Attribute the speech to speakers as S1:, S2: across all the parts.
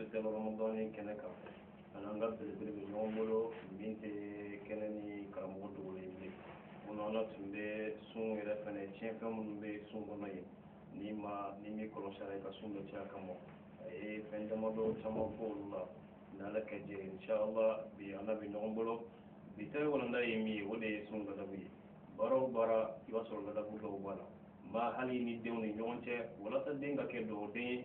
S1: bɛ dabagamɔgɔn ni kɛnɛ kan ani an ka belebele bɛ ɲɔgɔn bolo min tɛ kɛnɛ ni karamɔgɔ dogolen bilen mun na ala tun bɛ sun yɛrɛ fana tiɲɛfɛn minnu bɛ sun kɔnɔ yen ni ma ni min kɔlɔsira i ka sun bɛ caya ka mɔ a ye fɛn damadɔ caman fɔ olu la ni ala ka jɛ inshallah bi an bɛ ɲɔgɔn bolo bi ta walanda ye min ye o de ye sun ladabu ye baara o baara i b'a sɔrɔ ladabu dɔw b'a la n b'a hali ni denw ni ɲɔgɔn cɛ walasa den ka kɛ dɔgɔden ye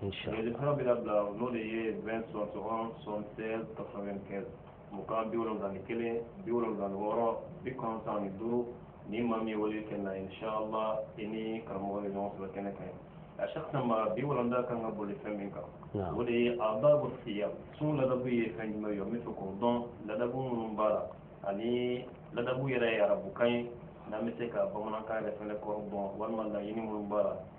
S1: jurusiraw bɛ labila n'o de ye 20 71 76 95 mugan bi wolonwula ni kelen bi wolonwula ni wɔɔrɔ bi kɔnɔntɔn ni duuru ni maa min ye wele kɛ na inshallah i ni karamɔgɔ bɛ ɲɔgɔn sɔrɔ kɛnɛ kan a shakisa ma bi walanda kan ka boli fɛn min kan o de ye adabu siyam sun ladabu ye fɛn jumɛn ye n bɛ fɛ k'o dɔn ladabu minnu b'a la ani ladabu yɛrɛ ye arabukan ye n'an bɛ se ka bamanankan yɛrɛ fɛnɛ kɔrɔ dɔn walima laɲini minnu b'a la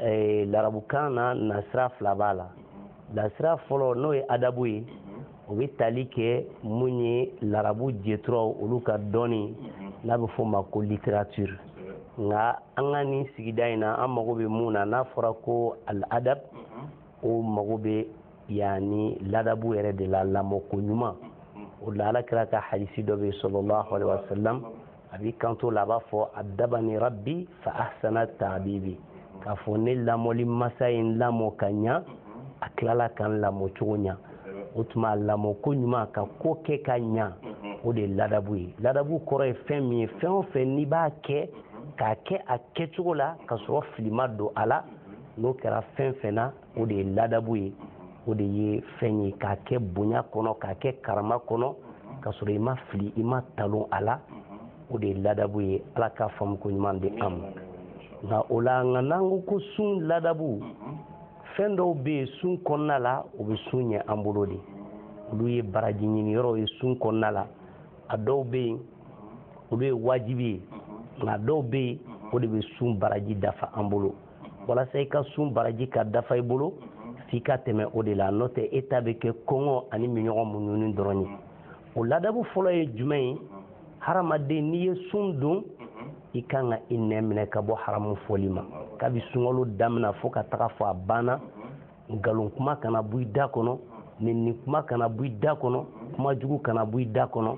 S2: eh, larabukan na nasira fila b'a la nasira fɔlɔ n'o ye adabu ye o bɛ tali kɛ mun ye larabu jeturaw olu ka dɔnni n'a bɛ f'o ma ko littérature nka an ka nin sigida in na an mago bɛ mun na n'a fɔra ko al adab o mago bɛ yanni ladabu yɛrɛ de la lamɔko ɲuman o la ala kira ka hadisi dɔ bɛ yen sallallahu alaihi wasallam a b'i kanto la a b'a fɔ adabani rabbi fa ahsana ta'dibi k'a fɔ ne lamɔli masa ye n lamɔ ka ɲa a tilala ka n lamɔ cogo ɲa o tuma a lamɔ ko ɲuman ka ko kɛ ka ɲa o de ye ladabu ye ladabu kɔrɔ ye fɛn min ye fɛn o fɛn n'i b'a kɛ k'a kɛ a kɛcogo la ka sɔrɔ fili ma don a la n'o kɛra fɛn fɛn na o de ye ladabu ye o de ye fɛn ye k'a kɛ bonya kɔnɔ k'a kɛ karama kɔnɔ ka sɔrɔ i ma fili i ma talon a la o de ye ladabu ye ala k'a faamu ko ɲuman di an ma nka o la nka n'an ko ko sun ladabu fɛn dɔw bɛ yen sun kɔnɔna la o bɛ sun ɲɛ an bolo de olu ye baraji ɲini yɔrɔw ye sun kɔnɔna la a dɔw bɛ yen olu ye wajibi ye nka dɔw bɛ yen o de bɛ sun baraji dafa an bolo walasa i ka sun baraji ka dafa i bolo f'i ka tɛmɛ o de la n'o tɛ e ta bɛ kɛ kɔngɔ ani minnɔgɔ muɲuni dɔrɔn ye o ladabu fɔlɔ ye jumɛn ye hadamaden n'i ye sun don i kan ka i nɛn minɛ ka bɔ haramu fɔli ma kabi sunkalo damina fo ka taga fo a banna nkalon kuma kana bɔ i da kɔnɔ nenni kuma kana bɔ i da kɔnɔ kuma jugu kana bɔ i da kɔnɔ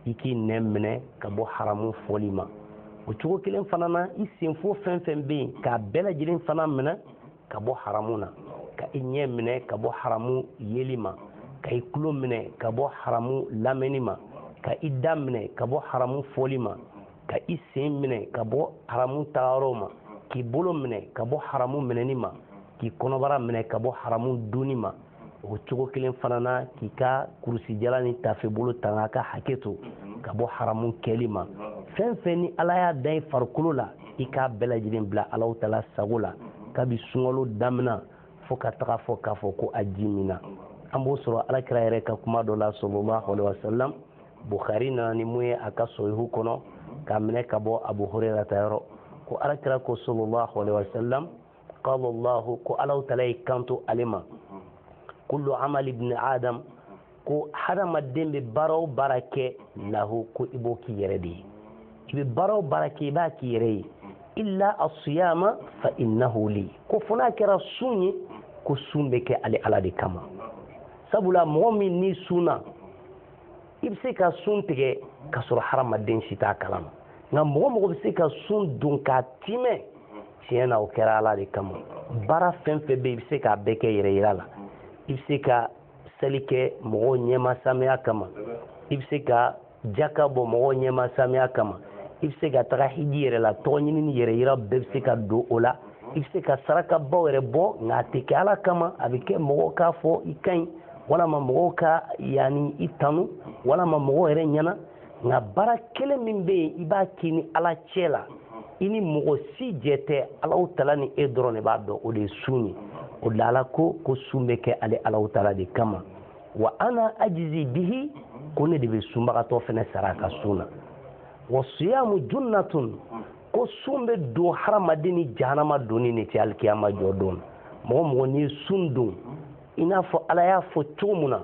S2: i k'i nɛn minɛ ka bɔ haramu fɔli ma o cogo kelen fana na i senfo fɛn fɛn bɛ yen k'a bɛɛ lajɛlen fana minɛ ka bɔ haramu na ka i ɲɛ minɛ ka bɔ haramu yeli ma ka i tulo minɛ ka bɔ haramu lamɛnni ma ka i da minɛ ka bɔ haramu fɔli ma ka i sen minɛ ka bɔ haramu tagayɔrɔw ma k'i bolo minɛ ka bɔ haramu minɛni ma k'i kɔnɔbara minɛ ka bɔ haramu dunni ma o cogo kelen fana na k'i ka kurusijala ni tafebolo tanga ka hakɛ to ka bɔ haramu kɛli ma fɛn fɛn ni ala y'a da i farikolo la i k'a bɛɛ lajɛlen bila alaw tala sago la kabi sunkalo damina fo ka taga a fɔ k'a fɔ ko a ji minna an b'o sɔrɔ alakira yɛrɛ ka kuma dɔ la sallallahu alaihi wasallam bukhari nana ni mun ye a ka sahihu kɔnɔ k'a minɛ ka bɔ abu huraira ta yɔrɔ ko alakira ko sallallahu alaihi wasallam qala allahu ko alaw tala y'i kanto ale ma kullu amali ibni adam ko hadamaden bɛ baara o baara kɛ lahu ko i b'o k'i yɛrɛ de ye i bɛ baara o baara kɛ i b'a k'i yɛrɛ ye illa assiyama fa innahu li ko fo n'a kɛra sun ye ko sun bɛ kɛ ale ala de kama sabula mɔgɔ min n'i sunna i bɛ se ka sun tigɛ ka sɔrɔ hadamaden si t'a kalama nka mɔgɔ o mɔgɔ bɛ se ka sun don k'a tiimɛ tiɲɛ na o kɛra ala de kama baara fɛn fɛn bɛ i bɛ se k'a bɛɛ kɛ yɛrɛ yira la i bɛ se ka seli kɛ mɔgɔw ɲɛma samiya kama i bɛ se ka jaka bɔ mɔgɔw ɲɛma samiya kama i bɛ se ka taga hiji yɛrɛ la tɔgɔ ɲini ni yɛrɛ yira bɛɛ bɛ se ka don o la i bɛ se ka sarakabaw yɛrɛ bɔ nka a tɛ kɛ ala kama a bɛ kɛ mɔgɔ k'a fɔ i ka ɲi walama mɔgɔw ka yani i tanu walama mɔgɔw yɛrɛ ɲɛna nka baara kelen min bɛ yen i b'a k'i ni ala cɛ la i ni mɔgɔ si jɛ tɛ alaw tala ni e dɔrɔn de b'a dɔn o de ye sun ye o de la ala ko ko sun bɛ kɛ ale alaw tala de kama wa ana ajzi bihi ko ne de bɛ sunbagatɔ fana sara a ka sun na wa siyamu junnatun ko sun bɛ don hadamaden ni jahanama donni de cɛ alikiyama jɔ don mɔgɔ mɔgɔ n'i ye sun don i n'a fɔ ala y'a fɔ cogo min na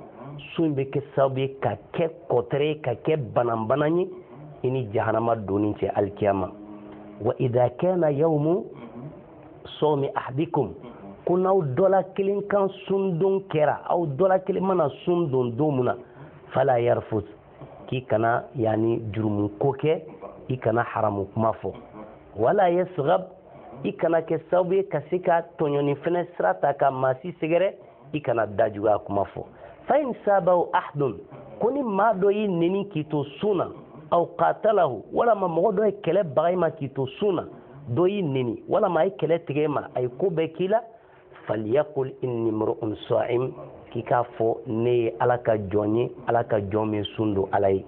S2: sun bɛ kɛ sababu ye ka kɛ kɔtɛrɛ ye ka kɛ bananbana ye i ni jahanama donni cɛ alikiyama wa idha kana yawmu sawmi ahadikum ko n'aw dɔla kelen ka sundon kɛra aw dɔla kelen mana sun don don min na fala yarfus k'i kana yani jurumu ko kɛ i kana haramu kuma fɔ wala yaskhab i kana kɛ sababu ye ka se ka tɔɲɔni fɛnɛ sira ta ka maa si sɛgɛrɛ i kana dajuguya kuma fɔ fa in sabbahu ahadun ko ni maa dɔ y'i neni k'i to sun na aw qatalahu walama mɔgɔ dɔ ye kɛlɛ baga i ma k'i to sun na dɔ y'i neni walama a ye kɛlɛ tigɛ i ma a ye ko bɛɛ k'i la falyaqul inni mru'un sa'im k'i k'a fɔ ne ye ala ka jɔn ye ala ka jɔn min sun don ala ye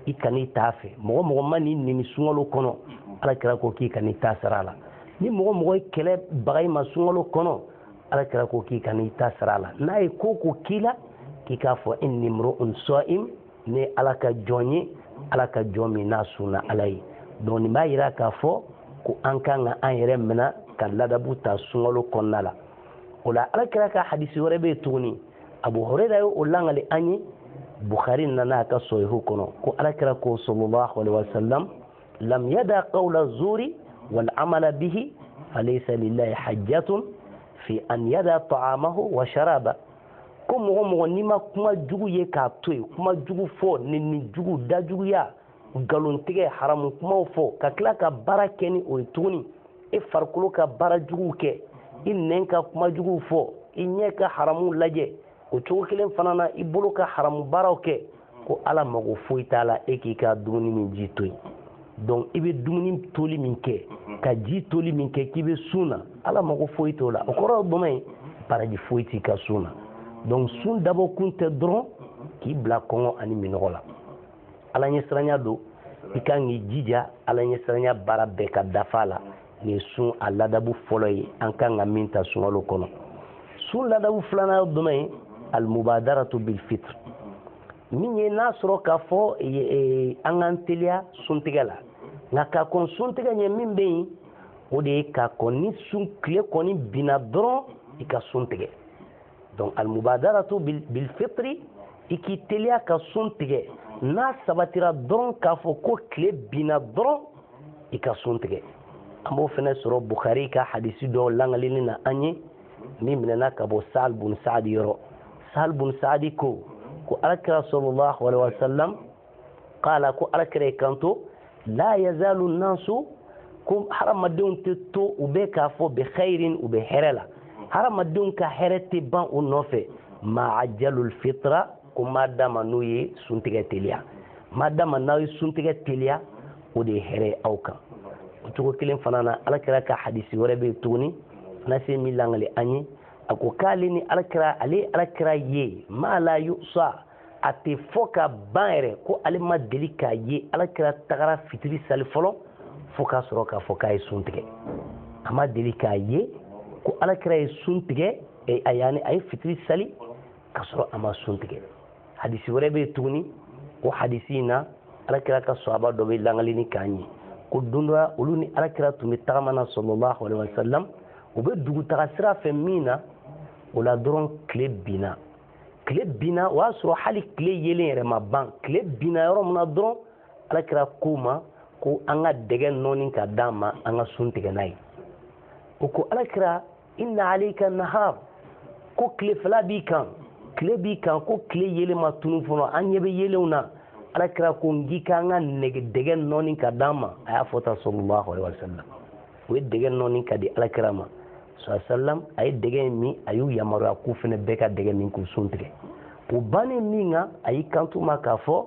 S2: i kan'i t'a fɛ mɔgɔ mɔgɔ man'i neni sunkalo kɔnɔ ala kira ko k'i kan'i ta sara a la ni mɔgɔ o mɔgɔ ye kɛlɛ baga i ma sunkalo kɔnɔ ala kira ko k'i kan'i ta sara a la n'a ye ko o ko k'i la k'i k'a fɔ inni mru'un sa'im ne ye ala ka jɔn ye ala ka jɔn min n'a sunna ala ye donc nin b'a yira k'a fɔ ko an kan ka an yɛrɛ minɛ ka ladabu ta sunkalo kɔnɔna la o la ala kira ka hadisi wɛrɛ bɛ yen tuguni abu hurera ye o langali an ye bukhari nana a ka sɔhihu kɔnɔ ko ala kira ko sallallahu alaihi wasallam lam yada qawla zuri wal amala bihi falaysa lillahi hajatun fi an yada ta'amahu wa sharaba ko mɔgɔ o mɔgɔ n'i ma kuma jugu ye k'a to yen kuma jugu fɔ nɛni jugu dajuguya nkalontigɛ haramu kumaw fɔ ka tila ka baara kɛ ni o ye tuguni e farikolo ka baara juguw kɛ i nɛn ka kuma juguw fɔ i ɲɛ ka haramu lajɛ o cogo kelen fana na i bolo ka haramu baaraw kɛ ko ala mago foyi t'a la e k'i ka dumuni ni ji to yen donc i bɛ dumuni toli min kɛ mhm. ka ji toli min kɛ k'i bɛ sun na ala mago foyi t'o la o kɔrɔ ye jumɛn ye baraji foyi t'i ka sun na donc sun dabɔ kun tɛ dɔrɔn mhm. k'i bila kɔngɔ ani minnɔgɔ la ala ɲɛsiranya don i kan k'i jija ala ɲɛsiranya baara bɛɛ ka dafa la nin ye sun a ladabu fɔlɔ ye an kan ka min ta sunkalo kɔnɔ sun ladabu filanan ye jumɛn ye almubadaratu bilfitr min ye n'a sɔrɔ k'a fɔ e, e, an k'an teliya suntigɛ la nka ka kɔn suntigɛ ɲɛ min bɛ yen o de ye ka kɔn ni sun tile kɔni binna dɔrɔn i ka sun tigɛ donc almubadaratu bilfitri i k'i teliya ka sun tigɛ n'a sabatira dɔrɔn k'a fɔ ko tile binna dɔrɔn i ka sun tigɛ an b'o fana sɔrɔ bukhari ka hadisi dɔ langalini na an ye min minɛna ka bɔ sahl bun saadi yɔrɔ sahl bun saadi ko ko alakira sallallahu alaihi wasallam qala ko alakira y'i kanto la yazalu nasu ko hadamadenw tɛ to u bɛ k'a fɔ bi khairin u bɛ hɛrɛ la hadamadenw ka hɛrɛ tɛ ban u nɔfɛ ma ajalul fitra ko ma dama n'u ye suntigɛ teliya ma dama n'aw ye suntigɛ teliya o de ye hɛrɛ ye aw kan o cogo kelen fana na alakira ka hadisi wɛrɛ bɛ yen tuguni anasi min langali an ye a ko k'ale ni alakira ale ye alakira ye ma la yuhsa a tɛ fɔ ka ban yɛrɛ ko ale ma deli k'a ye alakira tagara fitiri sali fɔlɔ fo k'a sɔrɔ k'a fɔ k'a ye sun tigɛ a ma deli k'a ye ko alakira ye sun tigɛ a yaani a ye fitiri sali ka sɔrɔ a ma sun tigɛ hadisi wɛrɛ bɛ tuguni ko hadisi in na alakira ka sɔhaba dɔ bɛ langalini k'an ye ko don dɔ olu ni alakira tun bɛ tagama na sallallahu alayhi wa sallam u bɛ dugutaga sira fɛ min na o la dɔrɔn tile binna tile binna o y'a sɔrɔ hali tile yeelen yɛrɛ ma ban tile binna yɔrɔ min na dɔrɔn alakira k'o ma ko an ka dɛgɛ nɔɔni ka d'an ma an ka sun tigɛ n'a ye o ko alakira inna alayka nahar ko tilefɛla b'i kan tile b'i kan ko tile yeelen ma tunu fɔlɔ an ɲɛ bɛ yeelenw na ala kira ko n k'i k'an ka dɛgɛ nɔɔni ka d'an ma a y'a fɔ tan sallallahu alaihi wa sallam o ye dɛgɛ nɔɔni ka di ala kira ma sallam a ye dɛgɛ in min a y'u yamaruya k'u fana bɛɛ ka dɛgɛ min k'u sun tigɛ o bannen min kɛ a y'i kanto u ma k'a fɔ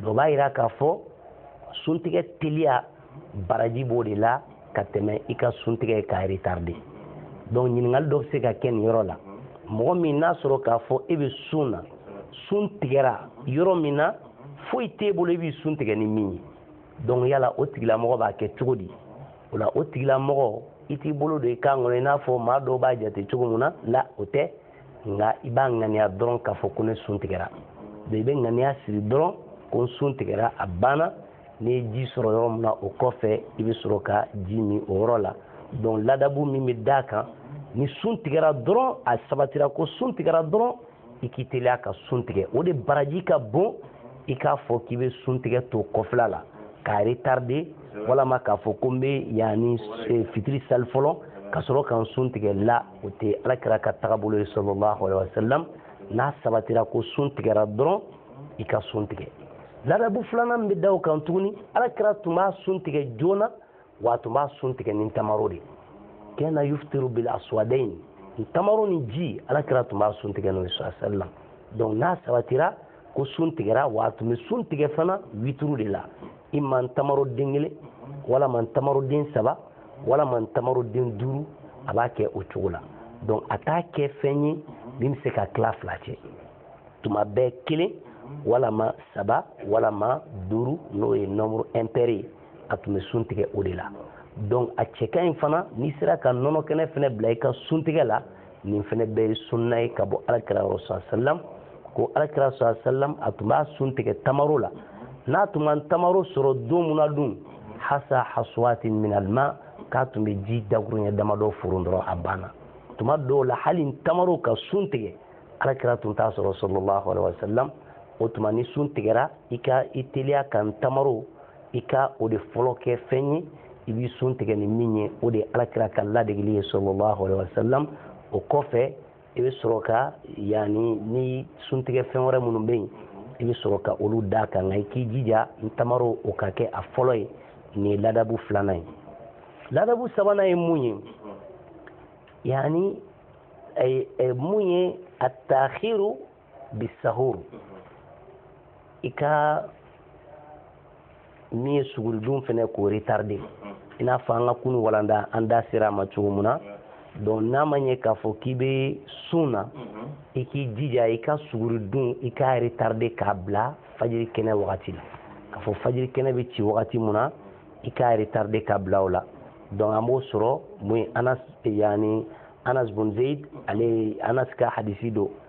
S2: dɔ b'a jira k'a fɔ suntigɛ teliya baraji b'o de la ka tɛmɛ i ka suntigɛ ka retarder donc ɲininkali dɔ bɛ se ka kɛ nin yɔrɔ la mɔgɔ min n'a sɔrɔ k'a fɔ e bɛ sun na sun tigɛra yɔrɔ min na foyi t'e bolo i b'i sun tigɛ ni min ye donc yala o tigilamɔgɔ b'a kɛ cogo di o la o tigilamɔgɔ i t'i bolo don i kan kɔnɔ i n'a fɔ maa dɔw b'a jate cogo min na la o tɛ nka i b'a ŋaniya dɔrɔn k'a fɔ ko ne sun tigɛra i bɛ ŋaniya siri dɔrɔn ko n sun tigɛra a banna n'i ye ji sɔrɔ yɔrɔ min na o kɔfɛ i bɛ sɔrɔ ka ji min o yɔrɔ la donc ladabu min bɛ d'a kan ni sun tigɛra dɔrɔn a sabatira ko sun tigɛra dɔrɔn i k'i teliya ka sun tigɛ o de baraji ka bon i k'a fɔ k'i bɛ sun tigɛ to kɔfila la k'a retarder walama k'a fɔ ko n bɛ yanni fitiri sali fɔlɔ ka sɔrɔ ka n sun tigɛ la o tɛ ala kira ka tagabolo ye sallallahu alaihi wasallam n'a sabatira ko sun tigɛra dɔrɔn i ka sun tigɛ ladabu filanan bɛ da o kan tuguni ala kira tun b'a sun tigɛ joona wa tun b'a sun tigɛ ni tamaro de kana yuftiru bil aswadain tamaro ni ji ala kira tun b'a sun tigɛ n'o ye sallallahu alaihi wasallam donc n'a sabatira ko sun tigɛra wa a tun bɛ sun tigɛ fana wituru de la imma tamaro den kelen walama tamaro den saba walama tamaro den duuru a b'a kɛ o cogo la donc a t'a kɛ fɛn ye min bɛ se ka tila fila cɛ tuma bɛɛ kelen walama saba walama duuru n'o ye nombre impair ye a tun bɛ sun tigɛ o de la donc a cɛ ka ɲi fana n'i sera ka nɔnɔ kɛnɛ fana bila i ka sun tigɛ la nin fana bɛɛ ye sunna ye ka bɔ alakira yɔrɔ sa sallam ko alakira sa sallam a tun b'a sun tigɛ tamaro la n'a tun ma tamaro sɔrɔ don min na dun hasa hasawatin minal ma k'a tun bɛ ji dakuruɲɛ damadɔ foron dɔrɔn a banna tuma dɔw la hali tamaro ka sun tigɛ alakira tun t'a sɔrɔ sallallahu alaihi wasallam o tuma ni sun tigɛra i ka i teliya ka tamaro i ka o de fɔlɔ kɛ fɛn ye i b'i sun tigɛ ni min ye o de ye alakira ka ladegeli ye sallallahu alaihi wa sallam o kɔfɛ i bɛ sɔrɔ ka yanni ni suntigɛ fɛn wɛrɛ minnu bɛ yen i bɛ sɔrɔ ka olu d'a kan nka i k'i jija tamaro o ka kɛ a fɔlɔ ye nin ye ladabu filanan ye ladabu sabanan ye mun ye yanni mun ye a taahiru bisahur i ka min ye suguri dun fana k'o retarde i n'a fɔ an ka kunu walanda an da sera a ma cogo min na donc n'a ma ɲɛ k'a fɔ k'i bɛ sun na i k'i jija i ka suguri dun i k'a retarde k'a bila fajiri kɛnɛ wagati la k'a fɔ fajiri kɛnɛ bɛ ci wagati min na i k'a retarde k'a bila o la donc an b'o sɔrɔ mun ye anas yanni anas bun zeid ale anas ka hadisi don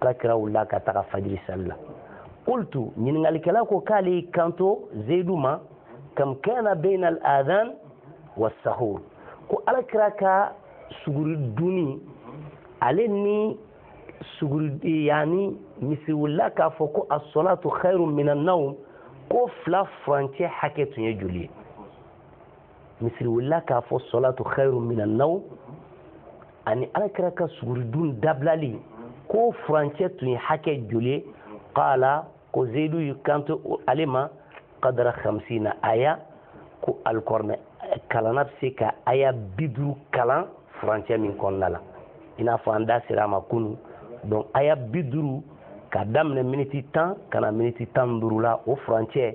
S2: alakira wulila ka taga fajiri sali la qultu ɲininkalikɛla ko k'ale y'i kanto zeyidu ma kam kana bayna al adhan wa sahur ko alakira ka suguri dunni ale ni suguri yanni misiri wulila k'a fɔ ko asɔlatu khairun minan nawm k'o fila furancɛ hakɛ tun ye joli ye misiri wulila k'a fɔ sɔlatu khairu minan nawm ani alakira ka suguridun dabilali ko furancɛ tun ye hakɛ joli ye qala ko zeyidu y'i kanto ale ma kadara khamsina aya ko alikɔrɔnɛ kalanna bɛ se ka aya bi duuru kalan furancɛ min kɔnɔna la i n'a fɔ an da sera a ma kunu donc aya bi duuru ka daminɛ miniti tan ka na miniti tan ni duuru la o furancɛ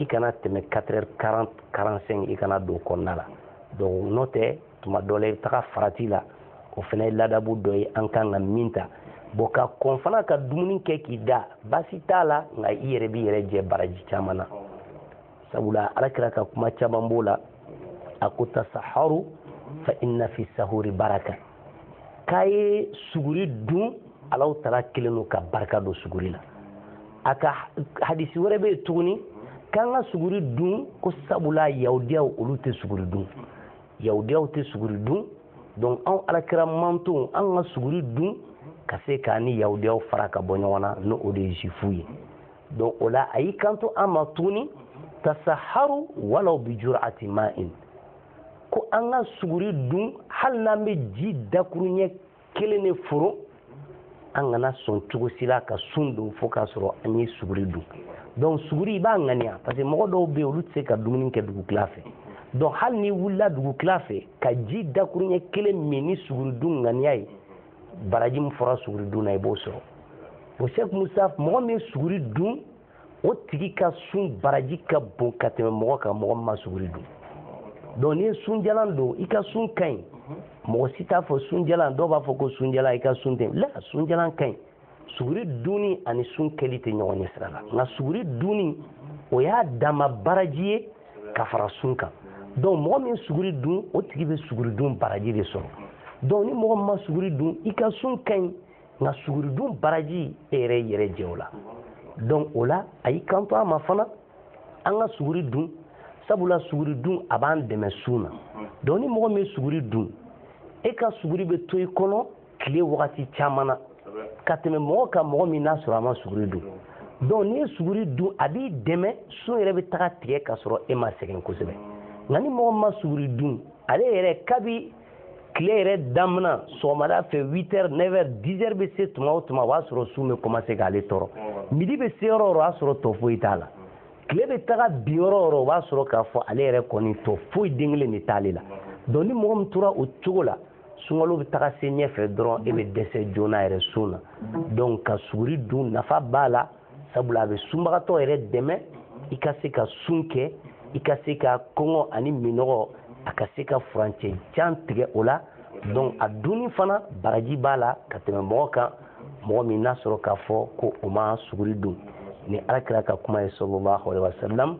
S2: i kana tɛmɛ 4h40 45 i kana don o kɔnɔna la donc n'o tɛ tuma dɔ la i bɛ taga farati la o fana ye ladabu dɔ ye an kan ka min ta bon ka kɔn fana ka dumuni kɛ k'i da baasi t'a la nka i yɛrɛ b'i yɛrɛ jɛ baraji caman na sabula alakira ka kuma caman b'o la a ko tasaharu fa inna fi sahuri baraka k'a ye suguri dun alahu taala kɛlen don ka barika don suguri la a ka hadisi wɛrɛ bɛ yen tuguni k'an ka suguri dun ko sabula yahudiyaw olu tɛ suguri dun yahudiyaw tɛ suguri dun donc anw alakira mantonw an ka suguri dun ka se k'an ni yahudiyaw fara ka bɔ ɲɔgɔn na n'o o de ye zuwifu ye donc o la a y'i kanto an ma tuguni tasaharu walaw bi jur'ati ma'in ko an ka suguri dun hali n'an bɛ ji dakuruɲɛ kelen de foro an kana sɔn cogo si la ka sun don fo k'a sɔrɔ an ye suguri dun donc suguri i b'a ŋaniya parce que mɔgɔ dɔw bɛ yen olu tɛ se ka dumuni kɛ dugu tila fɛ donc hali n'i wulila dugu tila fɛ ka ji dakuruɲɛ kelen min ni suguri dun ŋaniya ye baraji min fɔra suguri dun na i b'o sɔrɔ bon sɛk mustaf mɔgɔ min ye suguri dun o tigi ka sun baraji ka bon ka tɛmɛ mɔgɔ kan mɔgɔ min ma suguri dun donc n'i ye sunjalan don i ka sun ka ɲi mɔgɔ si t'a fɔ sunjalan dɔw b'a fɔ ko sunjalan i ka sun tɛ la sunjalan ka ɲi suguri dunni ani sun kɛli tɛ ɲɔgɔn ɲɛsira la nka suguri dunni o y'a dama baraji ye ka fara sun kan donc mɔgɔ min suguri dun o tigi bɛ suguri dun baraji de sɔrɔ donc ni mɔgɔ min ma suguri dun i ka sun ka ɲi nka suguridun baraji e yɛrɛ yɛrɛ jɛ o la donc o la a y'i kanto a ma fana an ka suguri dun sabula suguri dun a b'an dɛmɛ sun na donc ni mɔgɔ min ye suguri dun e ka suguri bɛ to i kɔnɔ tile wagati caman na ka tɛmɛ mɔgɔ kan mɔgɔ min n'a sɔrɔ a ma suguri dun donc n'i ye suguri dun a b'i dɛmɛ sun yɛrɛ bɛ taga tigɛ ka sɔrɔ e ma sɛgɛn kosɛbɛ nka ni mɔgɔ min ma suguri dun ale yɛrɛ kabi tile yɛrɛ damina sɔgɔmada fɛ 8 heures 9 heures 10 heures bɛ se tuma o tuma o b'a sɔrɔ sun bɛ commencer k'ale tɔɔrɔ midi bɛ se yɔrɔ o yɔrɔ o y'a sɔrɔ tɔ foyi t'a la tile bɛ taga bin yɔrɔ o yɔrɔ o b'a sɔrɔ k'a fɔ ale yɛrɛ kɔni tɔ foyi den kelen de t'ale la donc ni mɔgɔ min tora o cogo la sunkalo bɛ taga se ɲɛfɛ dɔrɔn e bɛ dɛsɛ joona yɛrɛ sun na donc ka suguri dun nafa b'a la sabula a bɛ sunbagatɔ yɛrɛ dɛmɛ i ka se ka sun kɛ i ka se ka kɔngɔ ani minɔgɔ a ka se ka furancɛ jan tigɛ o la donc a dunni fana baraji b'a la ka tɛmɛ mɔgɔ kan mɔgɔ min n'a sɔrɔ k'a fɔ ko o ma suguri dun nin ala kira ka kuma ye sallallahu alaihi wasallam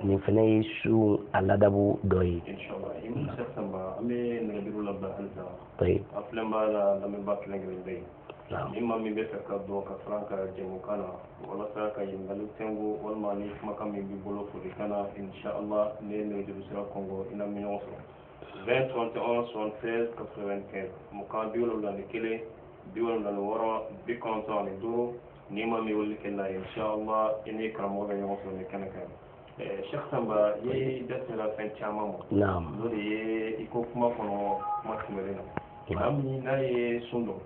S2: nin fana ye sun a ladabu dɔ ye an
S1: bɛ nɛgɛjuru labila halisa a filɛbaa
S2: n'a
S1: lamɛnbaa kelen kelen bɛɛ ye ni maa min b'a
S2: fɛ
S1: ka don ka fara an ka jɛmukan na walasa ka ɲininkali tɛngo walima ni kumakan min b'i bolo folikan na inshallah n'i ye nɛgɛjuru sira kɔnkɔn i n'an bɛ ɲɔgɔn sɔrɔ 20 71 76 95 mugan bi wolonwula ni kelen bi wolonwula ni wɔɔrɔ bi kɔnɔntɔn ani duuru ni maa min wele kɛ na inshallah i ni karamɔgɔ bɛ ɲɔgɔn sɔrɔ nin kɛnɛ kan eh, cheikh samba i da sera fɛn caman ma n'o de ye i ko kuma kɔnɔ kuma tɛmɛnen na maa min n'a ye sun don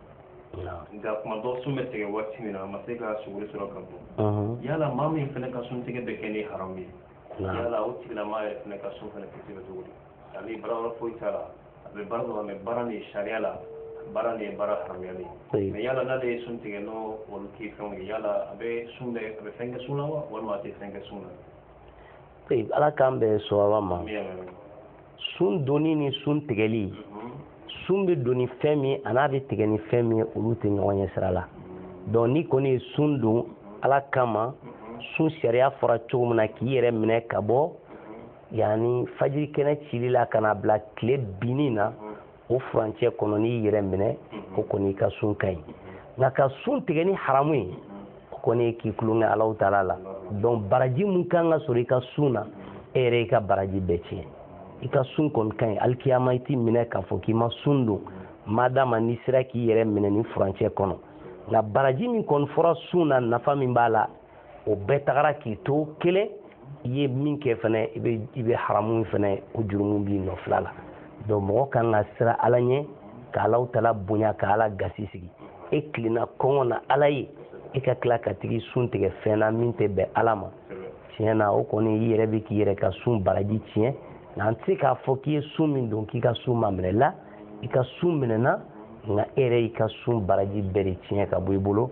S2: nka kuma dɔ
S1: sun bɛ tigɛ waati min na a ma se ka suguri sɔrɔ ka dun yala maa min fana ka sun tigɛ bɛ kɛ ni haramu ye yala o tigilamaa yɛrɛ fana ka sun fana tɛ tigɛ cogo di ale baara foyi t'a la a bɛ baara dɔ la mais baara nin sariya la baara nin ye baara haramuyalen ye mais yala n'ale ye sun tigɛ n'o olu k'i fɛnw ye
S2: yala a bɛ sun bɛ a bɛ fɛn kɛ sun na wa walima a tɛ fɛn kɛ sun na ee ala k'an bɛn sawaba ma sun donni ni sun tigɛli mhm. sun bɛ don ni fɛn min a n'a bɛ tigɛ ni fɛn min olu tɛ ɲɔgɔn ɲɛ sira la donc n'i kɔni ye sun don ala kama mhm. sun sariya fɔra cogo min na k'i yɛrɛ minɛ ka bɔ yanni fajiri kɛnɛ cili la ka na bila tile binni na o furancɛ kɔnɔ n'i yɛrɛ minɛ o kɔni i ka sun ka ɲi nka ka sun tigɛ ni haramu ye o kɔni k'i tulon kɛ alahu taala la donc baraji min kan ka sɔrɔ i ka sun na e yɛrɛ y'i ka baraji bɛɛ tiɲɛ i ka sun kɔni ka ɲi alikiyama i tɛ minɛ k'a fɔ k'i ma sun don madama n'i sera k'i yɛrɛ minɛ nin furancɛ kɔnɔ nka baraji min kɔni fɔra sun na nafa min b'a la o bɛɛ tagara k'i to kelen i ye min kɛ fana i bɛ i bɛ haramu fana o jurumu b'i nɔfila la donc mɔgɔ kan ka siran ala ɲɛ ka alahu taala bonya ka ala gasi sigi e tilenna kɔngɔ na ala ye e ka tila ka tag'i sun tigɛ fɛn na min tɛ bɛn ala ma tiɲɛ na o kɔni i yɛrɛ bɛ k'i yɛrɛ ka sun baraji tiɲɛ nka an tɛ se k'a fɔ k'i ye sun min don k'i ka sun ma minɛ la i ka sun minɛna nka e yɛrɛ y'i ka sun baraji bɛɛ de tiɲɛ ka bɔ i bolo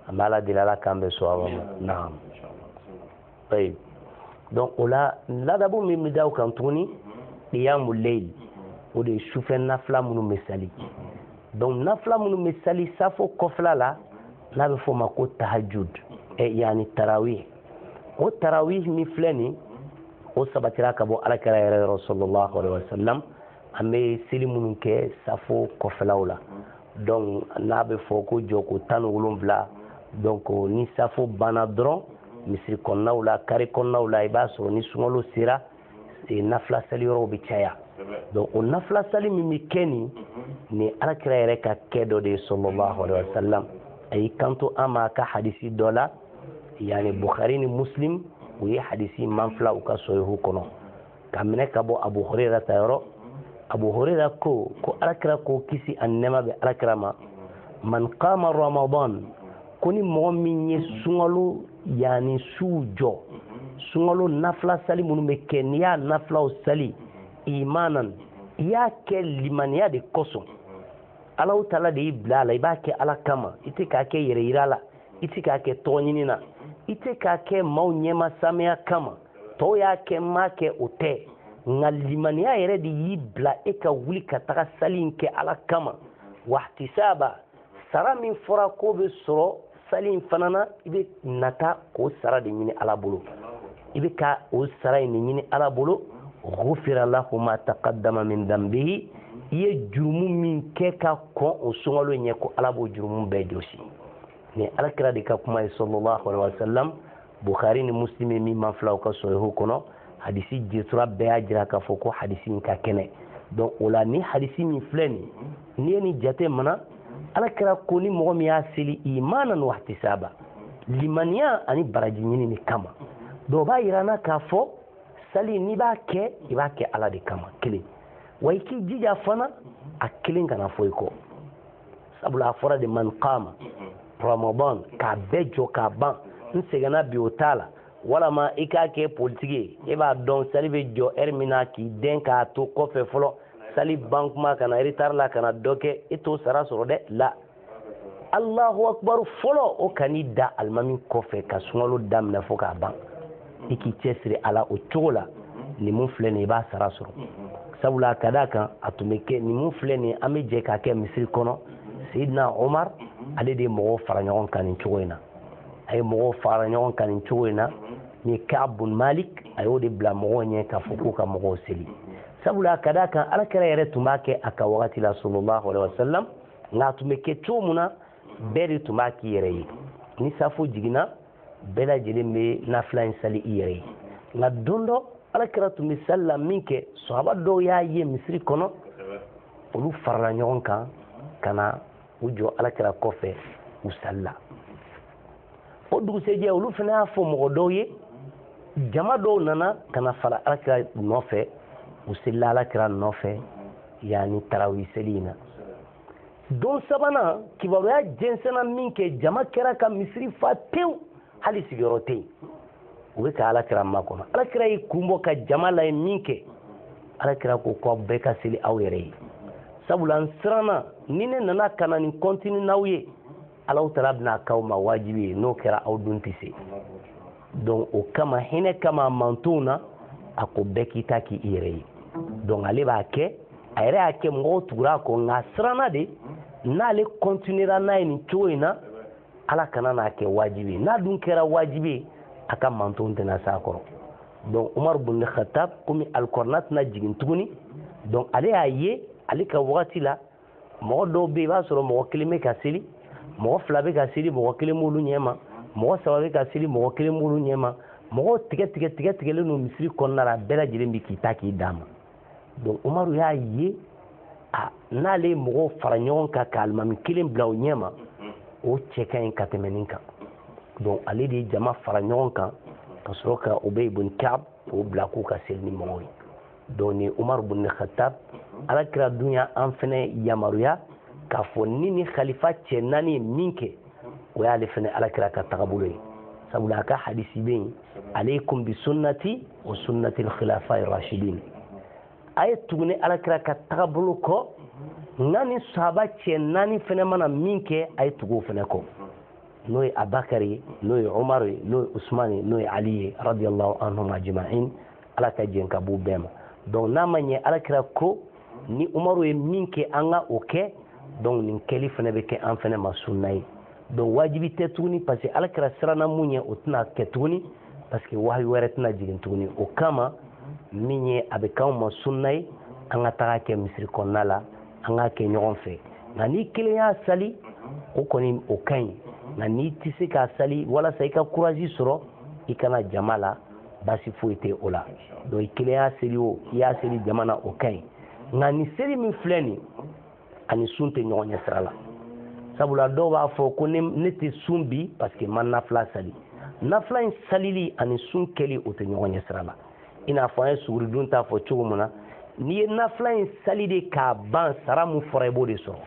S2: an bɛ ala deli ala k'an bɛɛ sɔn a ma naam ayi donc o la ladabu min bɛ da o kan tuguni qiyamul layl o de ye sufɛ nafila minnu bɛ sali donc nafila minnu bɛ sali safo kɔfɛla la n'a bɛ f'o ma ko tahajud ɛ yanni tarawih o tarawih min filɛ nin o sabatira ka bɔ alakira yɛrɛ yɔrɔ sallallahu alaihi wasallam an bɛ seli minnu kɛ safo kɔfɛlaw la donc n'a bɛ fɔ ko jɔko tan ni wolonwula donc ni safo banna dɔrɔn misiri kɔnɔnaw la kare kɔnɔnaw la i b'a sɔrɔ ni sunkalo sera e, nafila sali yɔrɔw bɛ caya donc o nafila sali min bɛ kɛ nin nin alakira yɛrɛ ka kɛ dɔ de ye sallallahu alaihi wasallam a y'i kanto an ma a ka hadisi dɔ la yanni bukhari ni muslim u ye hadisi manfila u ka sɔhihu kɔnɔ k'a minɛ ka bɔ abu huraira ta yɔrɔ abu huraira ko ko alakira ko kisi ani nɛɛma bɛ alakira ma man qama ramadan ko ni mɔgɔ min ye sunkalo yanni suw jɔ sunkalo nafila sali minnu bɛ kɛ n'i y'a nafilaw sali imanan i y'a kɛ limaniya de kosɔn alahu taala de y'i bila a la i b'a kɛ ala kama i tɛ k'a kɛ yɛrɛ yira la i tɛ k'a kɛ tɔgɔ ɲini na i tɛ k'a kɛ maaw ɲɛma saameya kama tɔw y'a kɛ n m'a kɛ o tɛ nka limaniya yɛrɛ de y'i bila e ka wuli ka taga sali in kɛ ala kama wahtisaba sara min fɔra k'o bɛ sɔrɔ sali in fana na i bɛ nata k'o sara de ɲini ala bolo i bɛ ka o sara in de ɲini ala bolo gufira lahu ma taqaddama min dambihi i ye jurumu min kɛ ka kɔn o sunkalo ɲɛ ko ala b'o jurumu bɛɛ jɔsi nin alakira de ka kuma ye sallallahu alaihi wasallam bukhari ni muslimi min manfila u ka sɔhihu kɔnɔ hadisi jetura bɛɛ y'a jira k'a fɔ ko hadisi in ka kɛnɛ donc o la nin hadisi min filɛ nin n'i ye nin jate minɛ alakira ko ni mɔgɔ min y'a seli imanan wahtisaba limaniya ani baraji ɲinini kama donc o b'a yira an na k'a fɔ sali n'i b'a kɛ i b'a kɛ ala de kama kelen wa i k'i jija fana a kelen kana fɔ i kɔ sabula a fɔra de man kama ramadan k'a bɛɛ jɔ k'a ban n sɛgɛnna bi o t'a la walama i k'a kɛ politiki ye e b'a dɔn sali bɛ jɔ ɛri min na k'i dɛn k'a to kɔfɛ fɔlɔ sali ban kuma ka na eretari la ka na dɔ kɛ e t'o sara sɔrɔ dɛ la alahu akubaru fɔlɔ o kan'i da alimami kɔfɛ ka sunkalo daminɛ fo k'a ban i k'i cɛsiri a la o cogo la nin mun filɛ nin i b'a sara sɔrɔ sabula ka d'a kan a tun bɛ kɛ nin mun filɛ nin an bɛ jɛ k'a kɛ misiri kɔnɔ seyidina omar ale de ye mɔgɔw fara ɲɔgɔn kan nin cogo in na a ye mɔgɔw fara ɲɔgɔn kan nin cogo in na ni kab bun malik a y'o de bila mɔgɔw ɲɛ k'a fɔ k'u ka mɔgɔw seli sabula ka d'a kan alakira yɛrɛ tun b'a kɛ a ka wagati la sallallahu alaihi wasallam nka a tun bɛ kɛ cogo min na bɛɛ de tun b'a k'i yɛrɛ ye ni safo jiginna bɛɛ lajɛlen bɛ nafila in sali i yɛrɛ ye nka don dɔ alakira tun bɛ sali la min kɛ sɔhaba dɔw y'a ye misiri kɔnɔ olu farala ɲɔgɔn kan ka na u jɔ alakira kɔfɛ u salila o dugusɛjɛ olu fana y'a fɔ mɔgɔ dɔw ye jama dɔw nana ka na fara alakira nɔfɛ u selila alakira nɔfɛ yaani tarawi seli in na don sabanan kibaruya jɛnsɛnna min kɛ jama kɛra ka misiri fa tewu hali sigiyɔrɔ tɛ yen u bɛ ka alakira makɔnɔ alakira y'i kun bɔ ka jama lajɛ min kɛ alakira ko k'aw bɛɛ ka seli aw yɛrɛ ye sabula n siranna ni ne nana ka na nin kɔntini n'aw ye ala taala bɛn'a k'aw ma wajibi ye n'o kɛra aw dun tɛ se donc o kama hinɛ kama a mantonw na a ko bɛɛ k'i ta k'i yɛrɛ ye donc ale b'a kɛ a yɛrɛ y'a kɛ mɔgɔw tugura a kɔ nka a siranna de n'ale continuera n'a ye nin cogo in na ala kana n'a kɛ wajibi ye n'a dun kɛra wajibi ye a ka mantonw tɛna s'a kɔrɔ donc umar bun khatab komi alikɔrɔna tɛna jigin tuguni donc ale y'a ye ale ka wagati la mɔgɔ dɔw bɛ i b'a sɔrɔ mɔgɔ kelen bɛ ka seli mɔgɔ fila bɛ ka seli mɔgɔ kelen b'olu ɲɛ ma mɔgɔ saba bɛ ka seli mɔgɔ kelen b'olu ɲɛ ma mɔgɔw tigɛ tigɛ tigɛ tigɛlen don misiri kɔnɔna la bɛɛ lajɛlen bɛ k'i ta k'i dama donc umaru y'a ye a n'ale ye mɔgɔw fara ɲɔgɔn kan ka alimami kelen bila o ɲɛ ma o cɛ ka ɲi ka tɛmɛ nin kan donc ale de ye jama fara ɲɔgɔn kan ka sɔrɔ ka ubey bun kab k'o bila k'u ka seli ni mɔgɔw ye donc ni umaru bun khatab ala kira dun y'an fɛnɛ yamaruya k'a fɔ ni ni khalifa cɛ naani ye min kɛ o y'ale fɛnɛ ala kira ka tagabolo ye sabula a ka hadisi bɛ yen aleikum bi sunnati wa sunnati lkhilafa rashidin a ye tugu ne ala kira ka tagabolo kɔ nka ni sahaba cɛ naani fɛnɛ mana min kɛ a ye tugu o fɛnɛ kɔ n'o ye abakari ye n'o ye umaru ye n'o ye usumani ye n'o ye ali ye radiallahu anhum ajmain ala ka jɛn ka b'u bɛɛ ma donc n'a ma ɲɛ alakira ko ni umaru ye min kɛ an ka o kɛ donc nin kɛli fana bɛ kɛ an fana ma sunna ye donc wajibi tɛ tuguni parce que alakira siranna mun ye o tɛna kɛ tuguni parce que wahayi wɛrɛ tɛna jigin tuguni o kama min ye a bɛ k'anw ma sunna ye an ka taga kɛ misiri kɔnɔna la an k'a kɛ ɲɔgɔn fɛ nka n'i kelen y'a sali o kɔni o ka ɲi nka n'i tɛ se k'a sali walasa i ka courage sɔrɔ i ka na jama la baasi foyi tɛ o la donc i kelen y'a seli o i y'a seli jama na o ka ɲi nka nin seli min filɛ nin ani sun tɛ ɲɔgɔn ɲɛ sira la sabula dɔw b'a fɔ ko ne tɛ sun bi parce que n ma nafila sali nafila in salili ani sun kɛli o tɛ ɲɔgɔn ɲɛ sira la i n'a fɔ an ye suguridun ta fɔ cogo min na n'i ye nafila in sali de k'a ban sara min fɔra i b'o de sɔrɔ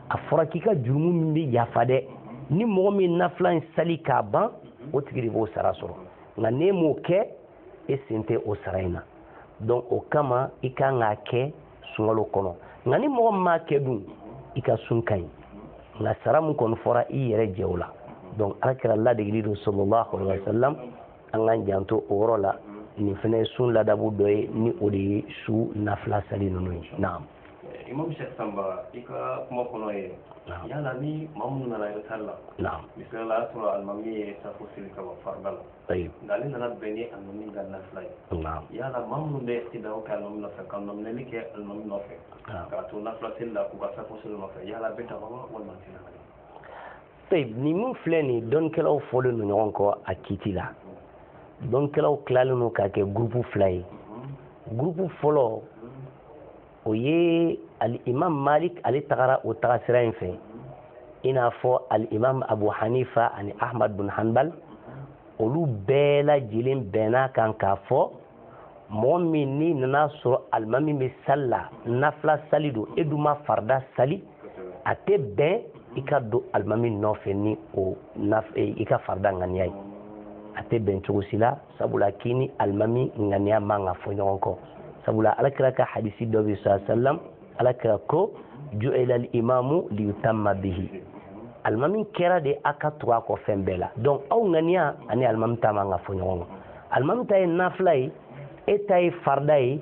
S2: a fɔra k'i ka jurumu min bɛ yafa dɛ ni mɔgɔ min nafila in sali k'a ban o tigi de b'o sara sɔrɔ nka n'e m'o kɛ e sen tɛ o sara in na donc o kama i kan k'a kɛ sunkalo kɔnɔ nka ni mɔgɔ min m'a kɛ dun i ka sun ka ɲi nka sara min kɔni fɔra i yɛrɛ jɛ o la donc alakira ladegeli don sallallahu alaihi wa sallam an k'an janto o yɔrɔ la nin fana ye sun ladabu dɔ ye ni o de ye su nafila sali ninnu ye naam imam
S1: sheikh samba i ka kuma kɔnɔ ye yala ni maa minnu nana retard la misali la y'a sɔrɔ alimami ye safo seli ka bɔ farida la nka ale nana bɛn ni alimami ka nafila ye yala maa minnu bɛ iqtida kɛ alimami nɔfɛ ka nɔminɛli kɛ alimami nɔfɛ k'a to nafila seli la k'u ka safo seli nɔfɛ yala bɛ taa walima tɛ nin min
S2: filɛ nin dɔnnikɛlaw fɔlen don ɲɔgɔn kɔ a kiiti la dɔnnikɛlaw tilalen don k'a kɛ gurupu fila ye gurupu fɔlɔ o ye alimam malik ale tagara o tagasira in fɛ i n'a fɔ alimam abu hanifa ani ahmad bin hanbal olu bɛɛ lajɛlen bɛnna kan k'a fɔ mɔgɔ min n'i nana sɔrɔ alimami bɛ sali la nafila sali don e dun ma farida sali a tɛ bɛn i ka don alimami nɔfɛ ni o eh, i ka farida ŋaniya ye a tɛ bɛn cogo si la sabula k'i ni alimami ŋaniya man ka fɔ ɲɔgɔn kɔ sabula alakira ka hadisi dɔ bɛ sa salam alakira ko ju'ila al-imamu liyutamma bihi alimami kɛra de a ka tugu a kɔ fɛn bɛɛ la donc aw ŋaniya ani alimami ta man ka fɔ ɲɔgɔn kɔ alimami ta ye nafila ye e ta ye farida ye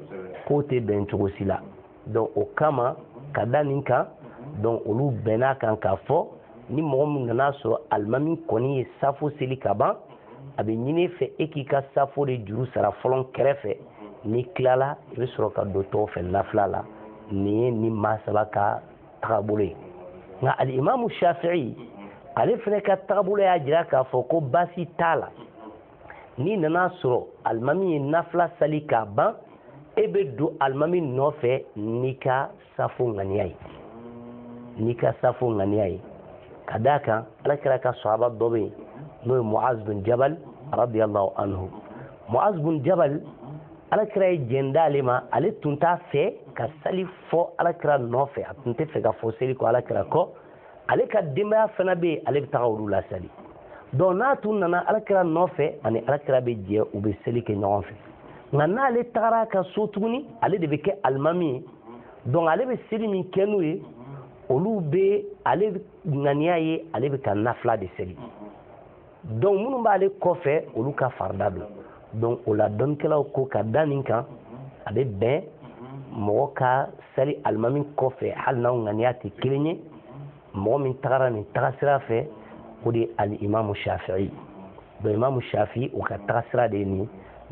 S2: k'o tɛ bɛn cogo si la donc o kama ka da nin kan donc olu bɛnna kan k'a fɔ ni mɔgɔ min nana sɔrɔ alimami kɔni ye safo seli ka ban a bɛ ɲini i fɛ e k'i ka safo de juru sara fɔlɔ kɛrɛfɛ n'i tilala i bɛ sɔrɔ ka don tɔw fɛ nafila la nin ye nin maa saba ka tagabolo ye nka alimamu shafi'i ale fana ka tagabolo y'a jira k'a fɔ ko baasi t'a la n'i nana sɔrɔ alimami ye nafila sali k'a ban e bɛ don alimami nɔfɛ n'i ka safo ŋaniya ye ka d'a kan alakira ka sahaba dɔ bɛ yen n'o ye muaz bin jabal radiyallahu anhu muaz bin jabal alakira ye jɛn d'ale ma ale tun t'a fɛ ka sali fɔ alakira nɔfɛ a tun tɛ fɛ ka fɔ seli kɔ alakira kɔ ale ka denbaya fana bɛ yen ale bɛ taga olu lasali donc n'a tun nana alakira nɔfɛ ani alakira bɛ jɛ u bɛ seli kɛ ɲɔgɔn fɛ nka n'ale tagara ka so tuguni ale de bɛ kɛ alimami ye donc ale bɛ seli min kɛ n'u ye olu bɛ ale ŋaniya ye ale bɛ ka nafila de seli donc minnu b'ale kɔfɛ olu ka farida don donc o la dɔnnikɛlaw ko ka da nin kan a bɛ bɛn mɔgɔ ka sali alimami kɔfɛ hali n'aw ŋaniya tɛ kelen ye mɔgɔ min tagara nin tagasira fɛ o de ye alimamu shafi'i donc imamu shafi'i o ka tagasira de ye nin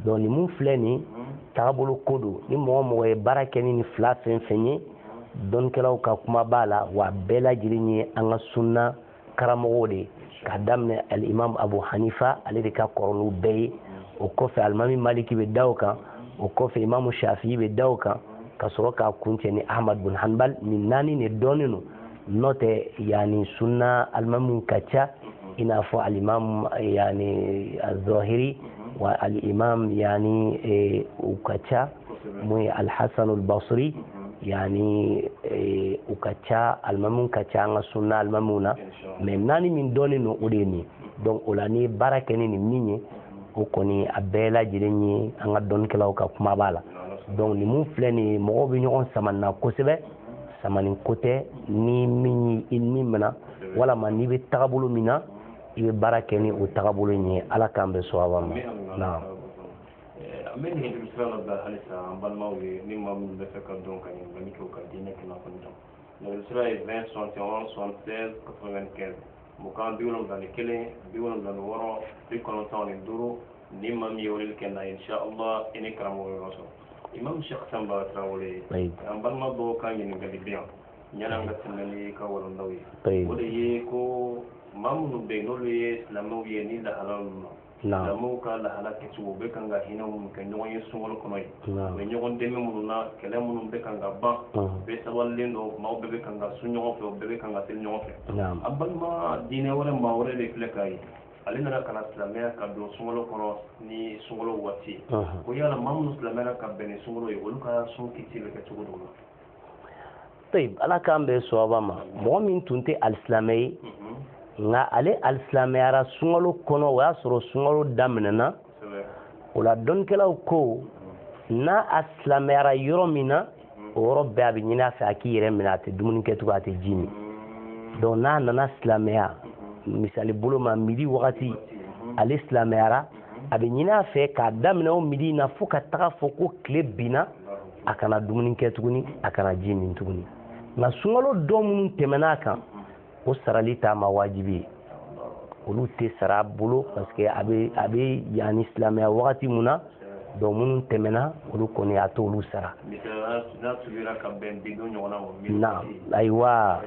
S2: donc nin mun filɛ nin tagabolo ko don ni mɔgɔ o mɔgɔ ye baara kɛ ni nin fila fɛn fɛn ye dɔnnikɛlaw ka kuma b'a la wa bɛɛ lajɛlen ye an ka sunna karamɔgɔw de ye k'a daminɛ alimamu abu hanifa ale de ka kɔrɔ n'u bɛɛ ye o kɔfɛ alimami maliki bɛ da o kan o kɔfɛ imamu shafi'i bɛ da o kan ka sɔrɔ k'a kuncɛ ni ahmad bin hanbal nin naani de dɔnnen don n'o tɛ yanni sunna alimamiw ka ca i n'a fɔ alimam yanni az-zahiri wa alimam yanni eh, u ka ca mun ye alhassan albasri yani eh, u ka ca alimamiw ka ca an ka sunna alimamiw na mais naani min dɔnnen don o de ye nin donc o la n'i ye baara kɛ ni nin min ye o kɔni a bɛɛ lajɛlen ye an ka dɔnnikɛlaw ka kuma b'a la donc nin mun filɛ nin ye mɔgɔw bɛ ɲɔgɔn sama nin na kosɛbɛ samani ko tɛ ni min i ni minɛ walama n'i bɛ tagabolo min na i bɛ baara kɛ ni o tagabolo in ye ala k'an bɛn sawaba ma naam
S1: an bɛ nɛgɛjuru sira labila halisa an balimaw ye ni maa minnu bɛ fɛ ka don ka ɲininkali kɛ u ka diinɛ kunnafoni dɔn nɛgɛjuru sira ye 20 71 76 95 mugan bi wolonwula ni kelen bi wolonwula ni wɔɔrɔ bi kɔnɔntɔn ni duuru ni maa min ye weleli kɛ na inshallah i n'i karamɔgɔ yɔrɔ sɔrɔ imam shekh sanba tarawele an balima dɔw ka ɲininkali bɛ yan yanni an ka tɛmɛ n'an ka walandaw ye o de ye ko maa minnu bɛ yen n'olu ye silamɛw ye nin lahalaw na silamɛw ka lahala kɛcogo u bɛ kan ka hinɛ minnu kɛ ɲɔgɔn ye sunkalo kɔnɔ ye u bɛ ɲɔgɔn dɛmɛ minnu na kɛlɛ minnu bɛ kan ka ban bɛɛ sabalilen don maaw bɛɛ bɛ kan ka sun ɲɔgɔn fɛ u bɛɛ bɛ kan ka seli ɲɔgɔn fɛ an balima diinɛ wɛrɛ maa wɛrɛ de filɛ k'a ye ale nana ka na silamɛya ka don sunkalo kɔnɔ ni sunkalo waati ye ko yala maa minnu silamɛyara ka bɛn ni sunkalo ye olu ka sun kiti bɛ kɛ cogo dɔ la
S2: طيب ala k'an bɛn sawaba ma mɔgɔ min tun tɛ alisilamɛ ye nka ale alisilamɛyara sunkalo kɔnɔ o y'a sɔrɔ sunkalo daminɛna o la dɔnnikɛlaw ko n'a a silamɛyara yɔrɔ min na o yɔrɔ bɛɛ a bɛ ɲini a fɛ a k'i yɛrɛ minɛ a tɛ dumuni kɛ tugun a tɛ ji min donc n'a nana silamɛya misali bolo ma midi wagati ale silamɛyara a bɛ ɲini a fɛ k'a daminɛ o midi in na fo ka taga fɔ ko tile binna a kana dumuni kɛ tuguni a kana ji min tuguni nka sunkalo don minnu tɛmɛna a kan o sarali t'a ma wajibi ye olu tɛ sara a bolo parce que a bɛ yani silamɛya wagati mun na donc minnu tɛmɛna olu kɔni a t'olu sara na ayiwa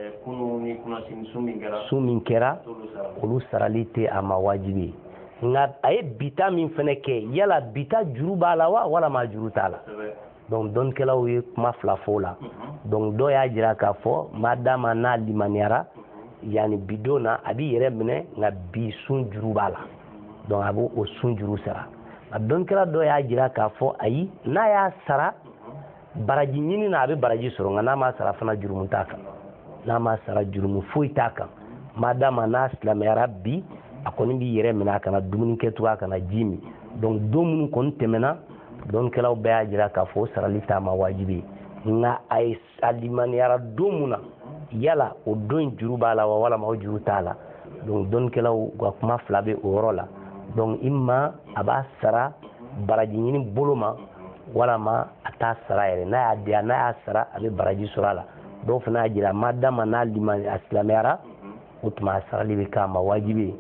S2: sun min kɛra olu sarali tɛ a ma wajibi ye nka a ye bi ta min fana kɛ yala bi ta juru b'a la wa walama a juru t'a la donc dɔnnikɛlaw ye kuma fila fɔ o la mhm. donc dɔw y'a jira k'a fɔ madama n'a limaniyara mhm. yani bi don na a b'i yɛrɛ minɛ nka bi sun juru b'a la donc a b'o sun juru sara nka dɔnnikɛla dɔw y'a jira k'a fɔ ayi n'a y'a sara baraji ɲini na a bɛ baraji sɔrɔ nka n'a m'a sara fana jurumu t'a kan n'a m'a sara jurumu foyi t'a kan madama n'a silamɛyara bi a kɔni b'i yɛrɛ minɛ a kana dumuni kɛ tugun a kana ji min donc don minnu kɔni tɛmɛna dɔnnikɛlaw bɛɛ y'a jira k'a fɔ o sarali t'a ma wajibi ye nka a ye a limaniyara don mun na yala o don in juru b'a la wa walama o juru t'a la donc dɔnnikɛlaw ka kuma fila bɛ o yɔrɔ la donc imma a b'a sara baraji ɲini bolo ma walama a t'a sara yɛrɛ n'a y'a diya n'a y'a sara a bɛ baraji sɔrɔ a la dɔw fana y'a jira madama n'a lima a silamɛyara o tuma a sarali bɛ k'a ma wajibi ye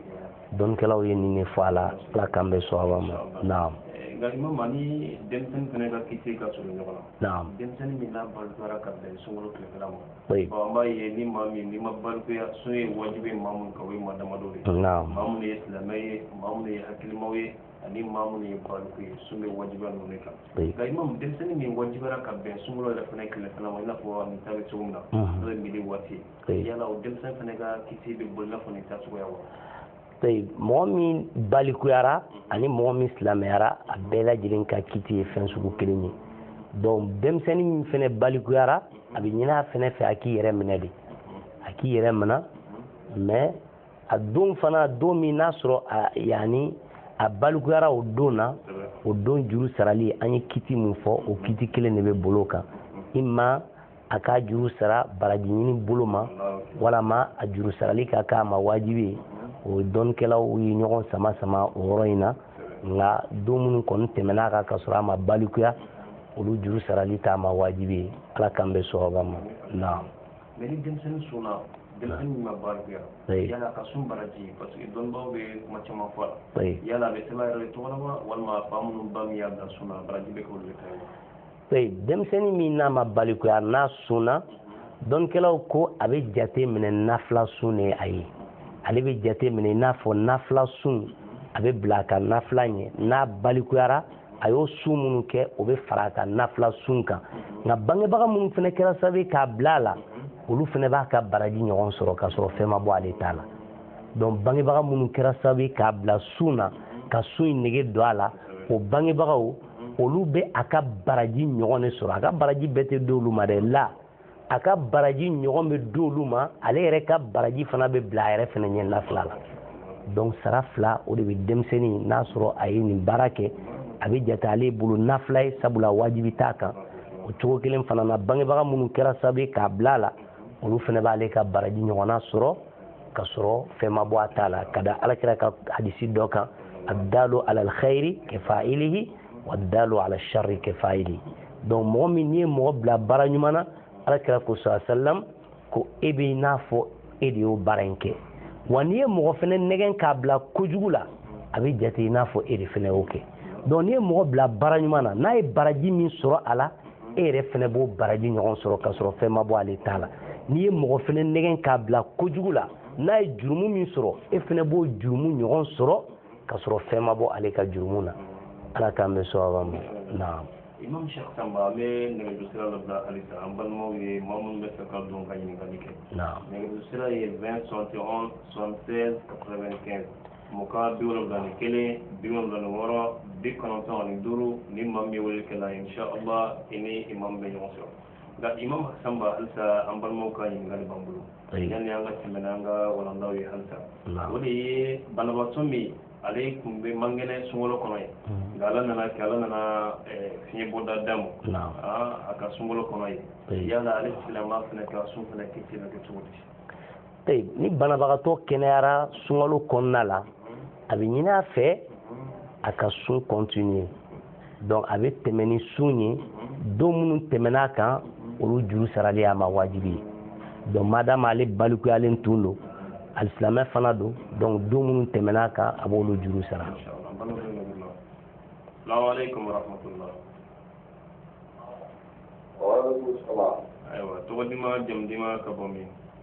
S2: dɔnnikɛlaw ye nin de fɔ a la ala k'an bɛn sawaba ma naam nka imam a ni
S1: denmisɛnnin fana ka kiti ka surun ɲɔgɔn na naam denmisɛnnin min n'a balikuyara ka bɛn sunkalo tilefɛla ma bon an b'a ye
S2: ni
S1: maa min n'i ma balikuya sun ye wajibi maa minnu kan o ye maa damadɔ de ye maa minnu ye silamɛ
S2: ye
S1: maa minnu ye hakilimaw ye ani maa minnu ye baliku ye sun bɛ wajibiya ninnu de kan nka imam
S2: denmisɛnnin
S1: min wajibiyara ka bɛn sunkalo yɛrɛ fana tilefɛla ma i n'a fɔ nin ta bɛ cogo min na n'o ye midi waati ye yala o denmisɛnnin fana ka kiti bɛ bɔ i n'a fɔ nin ta cogoya wa
S2: mɔgɔ min balikuyara ani mɔgɔ min silamɛyara a bɛɛ lajɛlen ka kiti ye fɛn sugu kelen ye donc denmisɛnnin min fana balikuyara a bɛ ɲin'a fana fɛ a k'i yɛrɛ minɛ de a k'i yɛrɛ minɛ mais a don fana don min n'a sɔrɔ yani a balikuyara o don na o don juru sarali an ye kiti min fɔ o kiti kelen de bɛ bol'o kan i ma a k'a juru sara baraji ɲini bolo ma walama a juru sarali ka k'a ma wajibi ye o dɔnnikɛlaw ye ɲɔgɔn sama sama o yɔrɔ in na nka don minnu kɔni tɛmɛna a kan ka sɔrɔ a ma balikuya olu juru sarali t'a ma wajibi ye ala k'an bɛn sawaba ma naam mais ni
S1: denmisɛnnin sunna denmisɛnnin min ma balikuya yala a ka sun baraji parce que dɔnnibaaw bɛ kuma caman fɔ a la yala a bɛ sɛbɛn yɛrɛ de tɔgɔ la walima fa minnu ba min y'a bila sun na baraji bɛ k'olu de ta ye denmisɛnnin min n'a
S2: ma balikuya n'a sunna dɔnnikɛlaw ko a bɛ jate minɛ nafila sun de a ye ale bɛ jate minɛ i n'a fɔ nafila sun a bɛ bila a ka nafila ɲɛ n'a balikuyara a y'o sun minnu kɛ o bɛ fara a ka nafila sun kan nka bangebaga minnu fana kɛra sababu ye k'a bila a la olu fana b'a ka baraji ɲɔgɔn sɔrɔ k'a sɔrɔ fɛn ma bɔ ale ta la donc bangebaga minnu kɛra sababu ye k'a bila sun na ka sun in nege don a la o bangebagaw olu bɛ a ka baraji ɲɔgɔn de sɔrɔ a ka baraji bɛɛ tɛ di olu ma dɛ la a ka baraji ɲɔgɔn bɛ di olu ma ale yɛrɛ ka baraji fana bɛ bila a yɛrɛ fana ɲɛ nafila la donc sara fila o de bɛ denmisɛnnin n'a sɔrɔ a ye nin baara kɛ a bɛ jate ale bolo nafila ye sabula wajibi t'a kan o cogo kelen fana na bangebaga minnu kɛra sababu ye k'a bila a la olu fana b'ale ka baraji ɲɔgɔnna sɔrɔ ka sɔrɔ fɛn ma bɔ a ta la ka da alakira ka hadisi dɔ kan addalu ala alkhairi kafa'ilihi wa addalu ala sharri kafa'ilihi donc mɔgɔ min n'i ye mɔgɔ bila baara ɲuman na alakira ko sa sallam ko e bɛ n'a fɔ e de y'o baara in kɛ wa n'i ye mɔgɔ fɛnɛ nɛgɛn k'a bila kojugu la a bɛ jate i n'a fɔ e de fɛnɛ y'o kɛ donc n'i ye mɔgɔ bila baara ɲuman na n'a ye baraji min sɔrɔ a la e yɛrɛ fana b'o baraji ɲɔgɔn sɔrɔ k'a sɔrɔ fɛn ma bɔ ale ta la n'i ye mɔgɔ fana nɛgɛn k'a bila kojugu la n'a ye jurumu min sɔrɔ e fana b'o jurumu ɲɔgɔn sɔrɔ k'a sɔrɔ fɛn ma bɔ ale ka jurumu na ala k'an bɛn sawaba ma naam imam shekh
S1: samba an bɛ nɛgɛjuru sira dɔ bila halisa an balimaw ye maa minnu bɛ fɛ ka don ka ɲininkali kɛ nɛgɛjuru sira ye 20 71 76 95 mugan bi wolonwula ni kelen bi wolonwula ni wɔɔrɔ bi kɔnɔntɔn ani duuru ni maa min ye wele kɛ la insha allah i ni imam bɛ ɲɔgɔn sɔrɔ nka imam hasan ba halisa an balimaw ka ɲininkali b'an bolo yanni an ka tɛmɛ n'an ka walandaw ye halisa o de ye banabaatɔ min ale tun bɛ man kɛnɛ sunkalo kɔnɔ ye mm. nka ala nana kɛ ala nana eh, fiɲɛbɔda d'a ma ah, a ka sunkalo kɔnɔ ye yala ale silamɛma fana ka sun fana kisi na kɛ cogo di ni
S2: banabagatɔ kɛnɛyara sunkalo kɔnɔna la a bɛ ɲini a fɛ a ka sun kɔntiniye donc a bɛ tɛmɛ ni sun ye don minnu tɛmɛna a kan olu juru sarali y'a ma wajibi ye donc madamu ale balikuyalen tun don alisilamɛ fana don donc don minnu tɛmɛna a kan a b'olu juru sara. ayiwa tɔgɔ duman jamu
S1: duman ka bɔ min.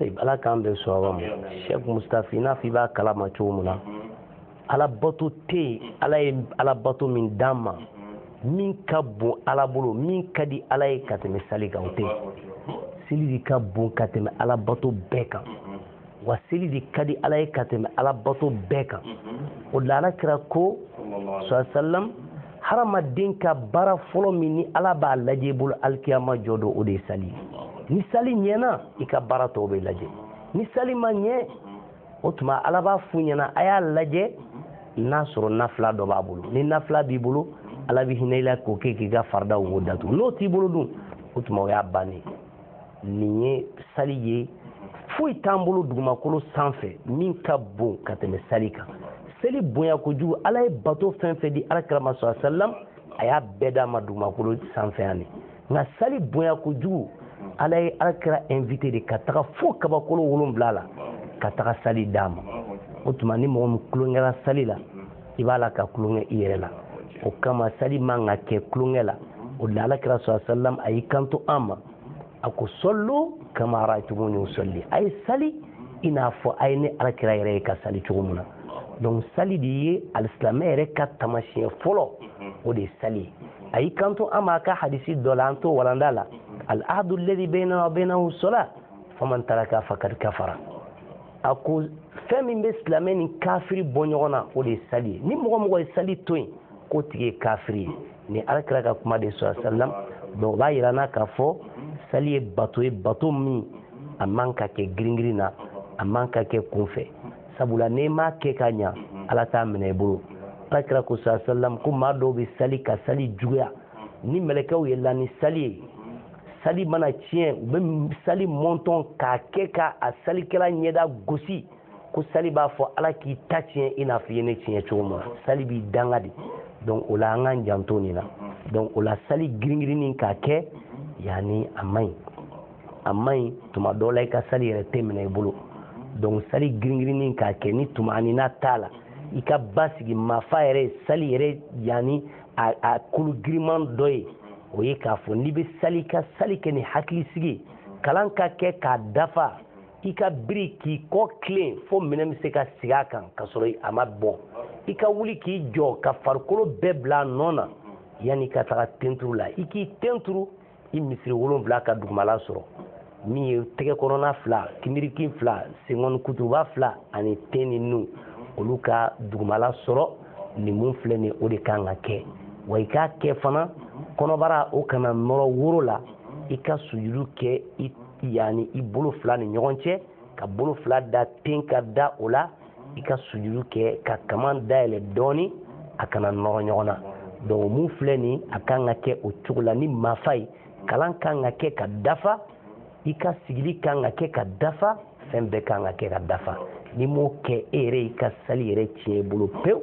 S1: ayi ala k'an bɛn
S2: sawaba ma sɛk mustafi i n'a fɔ i b'a kalama cogo min na ala bato tɛ yen ala ye ala bato min d'an ma min ka bon ala bolo min ka di ala ye ka tɛmɛ sali kan o tɛ seli de ka bon ka tɛmɛ ala bato bɛɛ kan wa seli de ka di ala ye ka tɛmɛ ala bato bɛɛ kan o la ala kira ko sɔsalam hadamaden ka baara fɔlɔ min ni ala b'a lajɛ i bolo alikiyama jɔ don o de ye sali ni sali ɲɛna i ka baara tɔw bɛ lajɛ ni sali ma ɲɛ o tuma ala b'a f'u ɲɛna a y'a lajɛ n'a sɔrɔ nafila dɔ b'a bolo ni nafila b'i bolo ala bɛ hinɛ i la k'o kɛ k'i ka faridaw wo datugu n'o t'i bolo dun o tuma o y'a bannen nin ye sali ye foyi t'an bolo dugumakolo sanfɛ min ka bon ka tɛmɛ sali kan seli bonya kojugu ala ye bato fɛn fɛn di ala kira ma sɔsalam a y'a bɛɛ d'a ma dugumakolo sanfɛ yan de nka sali bonya kojugu ala ye ala kira invite de ka taga fo kabakolo wolonwula la ka taga sali d'a ma o tuma ni mɔgɔ min tulonkɛra sali la i b'a la ka tulonkɛ i yɛrɛ la o kama sali man ka kɛ tulonkɛ la o de la ala kira sɔsalam a y'i kanto an ma a ko sɔlu kama rayitumuni usɔli a ye sali i n'a fɔ a ye ne ala kira yɛrɛ ye ka sali cogo min na donc sali de ye alisilamɛ yɛrɛ ka tamasiyɛn fɔlɔ o de ye sali ye a y'i kanto an ma a ka hadisi dɔ la an t'o walanda la al ahadu ladi bɛyinana wa bɛyinahu sɔla faman taraka fakad kafara a ko fɛn min bɛ silamɛ ni kafiri bɔ ɲɔgɔn na o de ye sali ye ni mɔgɔ o mɔgɔ ye sali to yen k'o tigi ye kafiri ye ni ala kira ka kuma de sɔsalam donc o b'a yira an na k'a fɔ sali ye bato ye bato min a man ka kɛ giringirin na a man ka kɛ kunfɛ sabula n'i m'a kɛ ka ɲa ala t'a minɛ i bolo ala kira ko sa salam ko maa dɔw bɛ sali ka sali juguya ni mɛlɛkɛw yɛlɛla ni sali ye sali mana tiɲɛ u bɛ sali mɔntɔn k'a kɛ ka a salikɛla ɲɛda gosi ko sali b'a fɔ ala k'i ta tiɲɛ i n'a fɔ i ye ne tiɲɛ cogo min na sali b'i danga de donc o la an k'an janto nin na donc o la sali giringirinni k'a kɛ yanni a man ɲi a man ɲi tuma dɔw la i ka sali yɛrɛ tɛ minɛ i bolo donc sali giringirinni k'a kɛ ni tumaanina t'a la i ka basigi mafa yɛrɛ sali yɛrɛ yanni a kulu giriman dɔ ye o ye k'a fɔ n'i bɛ sali ka sali kɛ ni hakilisigi kalan ka kɛ k'a dafa i ka biri k'i kɔ tilen fo minɛn bɛ se ka sigi a kan ka sɔrɔ a ma bɔn i ka wuli k'i jɔ ka farikolo bɛɛ bila a nɔ na yanni ka taga tenturu la i k'i tenturu i misiri wolonfila ka dugumala sɔrɔ min ye tɛgɛ kɔnɔna fila kinbirikin fila senkɔni kuturuba fila ani ten ni nu olu ka dugumala sɔrɔ nin mun filɛ nin o de kan ka kɛ wa i k'a kɛ fana kɔnɔbara o kana nɔrɔ woro la i ka sujudu kɛ yani i bolo fila ni ɲɔgɔn cɛ ka bolo fila da ten ka da o la i ka sujudu kɛ ka kaman dayɛlɛ dɔɔni a kana nɔrɔ ɲɔgɔn na donc mun filɛ nin a kan ka kɛ o cogo la ni mafa ye kalan kan ka kɛ ka dafa i ka sigili kan ka kɛ ka dafa fɛn bɛɛ kan ka kɛ ka dafa n'i m'o kɛ e yɛrɛ y'i ka sali yɛrɛ tiɲɛ i bolo pewu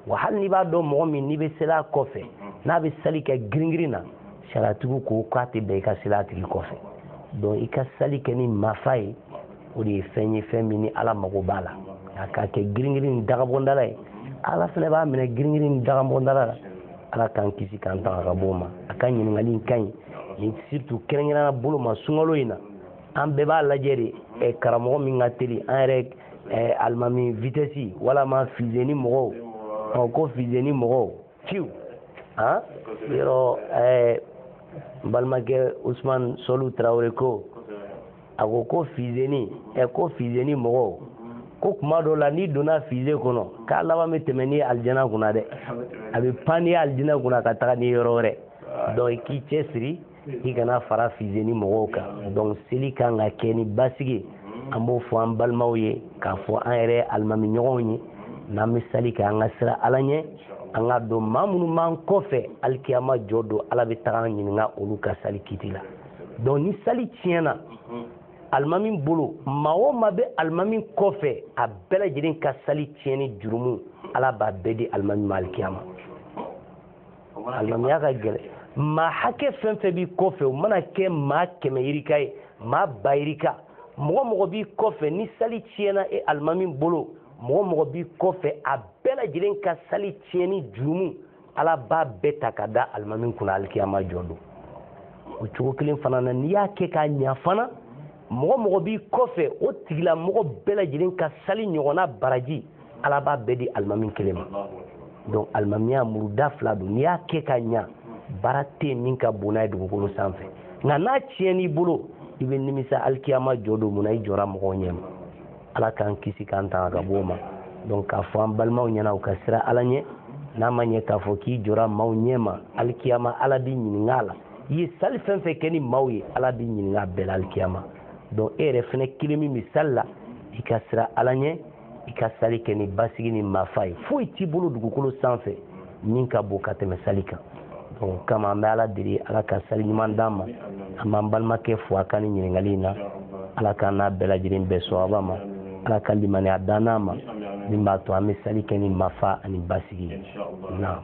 S2: wa hali n'i b'a dɔn mɔgɔ min n'i bɛ seli a kɔfɛ n'a bɛ sali kɛ giringirin na sariyatigiw ko k'a tɛ bɛn i ka seli a tigi kɔfɛ donc i ka sali kɛ ni mafa ye o de ye fɛn ye fɛn min ni ala mago b'a la a ka kɛ giringirin ni dagabɔndala ye ala fana b'a minɛ giringirin ni dagabɔndala la ala k'an kisi k'an tanga ka bɔ o ma a ka ɲininkali in ka ɲi ni surtout kɛrɛnkɛrɛnya bolo ma sunkalo in na an bɛɛ b'a lajɛ de karamɔgɔ min ka teli an yɛrɛ ɛɛ alimami vitɛsi walama fizeni mɔgɔw ɔ ko fizeni mɔgɔw fiw han yɔrɔ ɛɛ n balimakɛ usumani sɔlu tarawele ko a ko ko fizeni ɛ ko fizeni mɔgɔw ko kuma dɔ la n'i donna fize kɔnɔ k'a laban bɛ tɛmɛ n'i ye alijana kunna dɛ a bɛ pan n'i ye alijana kunna ka taga n'i ye yɔrɔ wɛrɛ donc i k'i cɛsiri i kana fara fizeni mɔgɔw kan donc seli kan ka kɛ ni basigi an b'o fɔ an balimaw ye k'a fɔ an yɛrɛ alimami ɲɔgɔnw ye n'an bɛ sali kɛ an ka siran ala ɲɛ an ka dɔn maa minnu b'an kɔfɛ alikiyama jɔ don ala bɛ taga an ɲininka olu ka sali kiti la donc ni sali tiɲɛna alimami bolo maa o maa bɛ alimami kɔfɛ a bɛɛ lajɛlen ka sali tiɲɛni jurumu ala b'a bɛɛ di alimami ma alikiyama alimamiya ka gɛlɛn maa hakɛ fɛn fɛn b'i kɔfɛ o mana kɛ maa kɛmɛ yirika ye maa ba yirika mɔgɔ mɔgɔ b'i kɔfɛ ni sali tiɲɛna e alimami bolo mɔgɔ mɔgɔ b'i kɔfɛ a bɛɛ lajɛlen ka sali tiɲɛni jurumu ala b'a bɛɛ ta ka da alimami kunna alikiyama jɔ don o cogo kelen fana na n'i y'a kɛ k'a ɲa fana mɔgɔ mɔgɔ b'i kɔfɛ o tigila mɔgɔ bɛɛ lajɛlen ka sali ɲɔgɔnna baraji ala b'a bɛɛ di alimami kelen ma donc alimamiya muruda fila don n'i y'a kɛ ka ɲa baara tɛ min ka bon n'a ye dugukolo sanfɛ nka n'a tiɲɛn'i bolo i bɛ nimisa alikiyama jɔ don mun na i jɔra mɔgɔw ɲɛ ma ala k'an kisi k'an tanga ka bɔ o ma donc k'a fɔ an balimaw ɲɛna u ka sira ala ɲɛ n'a ma ɲɛ k'a fɔ k'i jɔra maaw ɲɛ ma alikiyama ala b'i ɲininka a la i ye sali fɛn fɛn kɛ ni maaw ye ala b'i ɲininka a bɛɛ la alikiyama donc e yɛrɛ fɛnɛ kelen min bɛ sali la i ka sira ala ɲɛ i ka sali kɛ ni basigi ni mafa ye foyi t'i bolo dugukolo sanfɛ min ka bon ka tɛmɛ sali kan donc kama an bɛ ala deli ala ka sali ɲuman d'an ma an b'an balimakɛ fo a ka ni ɲininkali in na ala k'an n'a bɛɛ lajɛlen bɛn sawaba ma ala ka limaniya dan an ma min b'a to an bɛ sali kɛ ni mafa ani basigi ye naam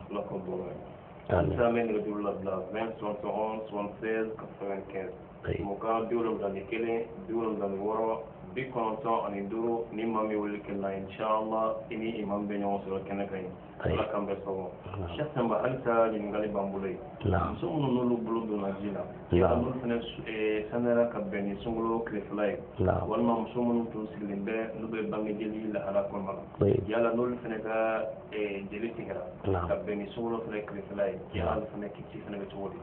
S1: Amin. Isa min bɛ duuru labila 20 71 76 95 Ayi. mugan bi wolonwula ni kelen bi wolonwula ni wɔɔrɔ bi kɔnɔntɔn ani duuru ni maa min wele kelen na inshallah i ni imam bɛ ɲɔgɔn sɔrɔ kɛnɛ kan yen Ayi. ala k'an bɛɛ sɔn Amin. Cheikh Sanba halisa ɲininkali b'an bolo yen Naam. muso minnu n'olu bolo donna ji la Naam. n'olu fana su- eh, saniyara ka bɛn ni sunkalo tilefɛla ye Naam. walima muso minnu tun sigilen bɛ n'u bɛ bangejeli lahala kɔnɔna na Ayi. yala n'olu fana ka eh, jeli tigɛra ka bɛn ni sunkalo fana tilefɛla ye olu fana kiti fana bɛ cogo di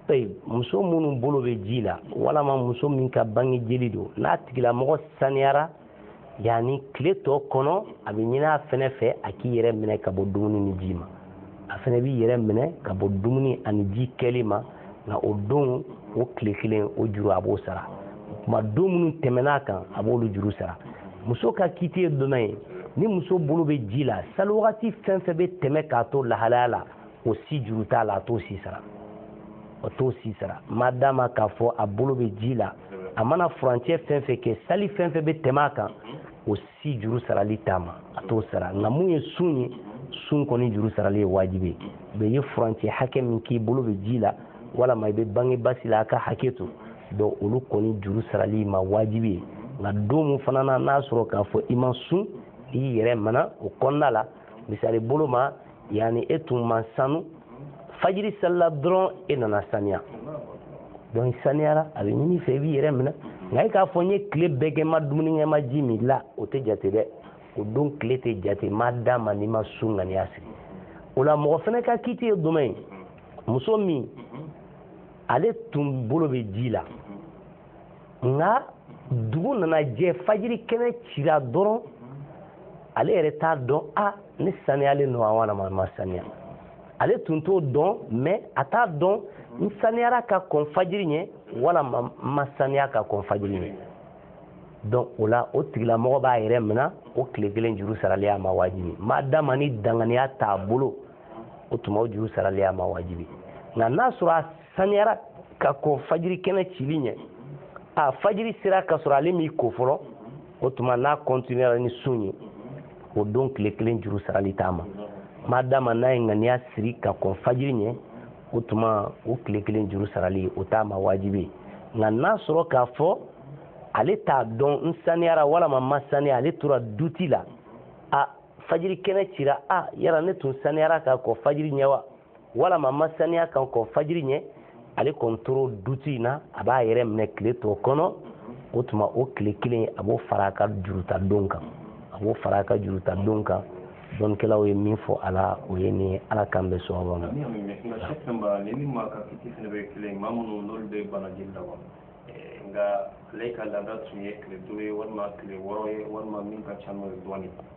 S1: tayi muso minnu bolo bɛ ji la walama muso min ka bange jeli don n'a tigilamɔgɔ saniyara yanni tile tɔ kɔnɔ a bɛ ɲini a fɛnɛ fɛ a k'i yɛrɛ minɛ ka bɔ dumuni ni ji ma a fɛnɛ b'i yɛrɛ minɛ ka bɔ dumuni ani ji kɛli ma nka o don o tile kelen o juru a b'o sara kuma don minnu tɛmɛn'a kan a b'olu juru sara muso ka kiti ye donna ye ni muso bolo bɛ ji la sali wagati fɛn fɛn bɛ tɛmɛ k'a to lahalaya la o si juru t'a la a t'o si sara o t'o si sara madama k'a fɔ a bolo bɛ ji la a mana furancɛ fɛn fɛn kɛ sali fɛn fɛn bɛ tɛmɛ a kan o si juru sarali t'a ma a t'o sara nka mun ye sun ye sun kɔni juru sarali ye wajibi ye i ye furancɛ hakɛ min k'i bolo bɛ ji la walama i bɛ bange basi la a ka hakɛ to donc olu kɔni juru sarali y'i ma wajibi ye nka don min fana na n'a sɔrɔ k'a fɔ i ma sun i y'i yɛrɛ minɛ o kɔnɔna la misali bolo ma yani e tun man sanu fajiri salila dɔrɔn e nana saniya donc i saniyara a bɛ ɲin'i fɛ i b'i yɛrɛ minɛ nka e k'a fɔ n ye tile bɛɛ kɛ n ma dumuni kɛ n ma ji min la o tɛ jate dɛ o don tile tɛ jate madama n'i ma sun ŋaniya sigi o la mɔgɔ fana ka kiti ye jumɛn ye muso min ale tun bolo bɛ ji la nka dugu nana jɛ fajiri kɛnɛ cira dɔrɔn ale yɛrɛ t'a dɔn a ne saniyalen don a walama n ma saniya ale tun t'o dɔn mais a t'a dɔn n saniyara ka kɔn fajiri ɲɛ walama n ma saniya ka kɔn fajiri ɲɛ donc o la o tigilamɔgɔ b'a yɛrɛ mina o tile kelen juru sarali a ma wajibi ma dama ni danganiya t'a bolo o tuma o juru sarali a ma wajibi nka n'a sɔrɔ a saniyara ka kɔn fajiri kɛnɛ cili ɲɛ a fajiri sera ka sɔrɔ ale m'i ko fɔlɔ o tuma n'a continuera ni sun ye o don tile kelen juru sarali t'a ma ma dama n'a ye ŋaniya siri ka kɔn fajiri ɲɛ o tuma o tile kelen juru sarali o t'a ma wajibi ye nka n'a sɔrɔ k'a fɔ ale t'a dɔn n saniyara walama ma saniya ale tora duti la a fajiri kɛnɛ cira a yala ne tun saniyara ka kɔn fajiri ɲɛ wa walama ma saniya ka kɔn fajiri ɲɛ ale kɔni tora duti in na a b'a yɛrɛ minɛ tile tɔ kɔnɔ o tuma o tile kelen a b'o fara a ka juruta don kan a b'o fara a ka juruta don kan dɔnnikɛlaw ye min fɔ a la o ye nin ala k'an bɛ sɔn ma. nka ale ka laada tun ye tile duuru ye walima tile wɔɔrɔ ye walima min ka ca n'o ye dɔɔnin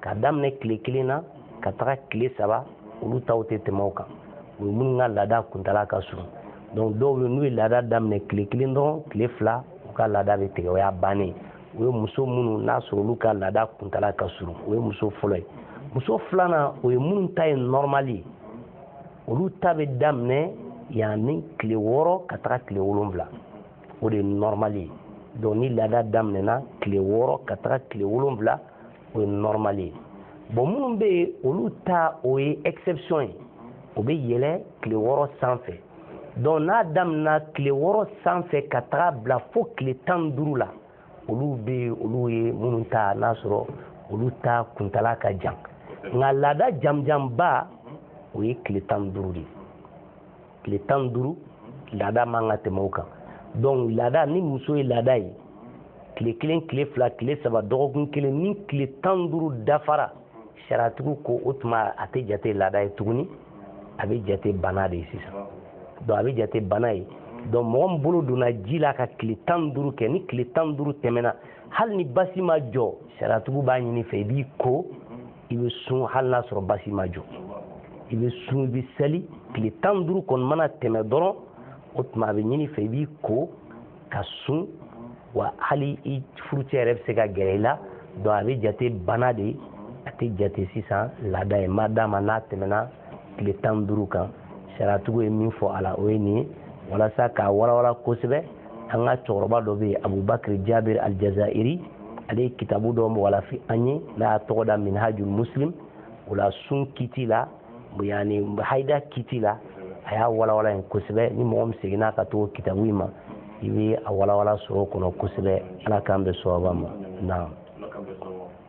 S2: ka daminɛ tile kelen na ka taga tile saba olu taw tɛ tɛmɛ o kan o ye minnu ka laada kuntala ka surun donc dɔw bɛ n'u ye laada daminɛ tile kelen dɔrɔn tile fila u ka laada bɛ tigɛ o y'a bannen o ye muso minnu n'a sɔrɔ olu ka laada kuntala ka surun o ye muso fɔlɔ ye muso filanan o ye minnu ta ye normal ye olu ta bɛ daminɛ yanni tile wɔɔrɔ ka taga tile wolonwula o de ye normal ye donc ni laada daminɛna tile wɔɔrɔ ka taga tile wolonwula o ye normal ye bon minnu bɛ yen olu ta o ye exception ye o bɛ yɛlɛ tile wɔɔrɔ sanfɛ donc n'a daminɛna tile wɔɔrɔ sanfɛ ka taga bila fo tile tan ni duuru la olu bɛ yen olu ye minnu ta n'a sɔrɔ olu ta kuntala ka jan nka laada janjanba o ye tile tan ni duuru de ye tile tan ni duuru laada man ka tɛmɛ o kan donc laada ni muso ye laada ye tile kelen tile fila tile saba dɔgɔkun kelen ni tile tan ni duuru dafara sariyatigiw ko o tuma a tɛ jate laada ye tuguni a bɛ jate bana de ye sisan donc a bɛ jate bana ye donc mɔgɔ min bolo donna ji la ka tile tan ni duuru kɛ ni tile tan ni duuru tɛmɛna hali ni basi ma jɔ sariyatigiw b'a ɲini i fɛ i b'i ko i bɛ sun hali n'a sɔrɔ basi ma jɔ i bɛ sun i bɛ seli tile tan ni duuru kɔni mana tɛmɛ dɔrɔn o tuma a bɛ ɲini i fɛ i b'i ko ka sun wa hali i furucɛ yɛrɛ bɛ se ka gɛrɛ i la donc a bɛ jate bana de ye a tɛ jate sisan laada ye ma dama n'a tɛmɛna tile tan ni duuru kan sariyatigiw ye min fɔ a la o ye nin ye walasa k'a walawala kosɛbɛ an ka cɛkɔrɔba dɔ bɛ yen abubakari jabir aljazairi ale ye kitabu dɔ walafi an ye n'a y'a tɔgɔ da minhajul muslim o la sun kiti la yani hayida kiti la a y'a walawala yen kosɛbɛ ni mɔgɔ min seginna ka taga o kitabu in ma i bɛ a walawala sɔrɔ o kɔnɔ kosɛbɛ ala k'an bɛn sawaba ma naam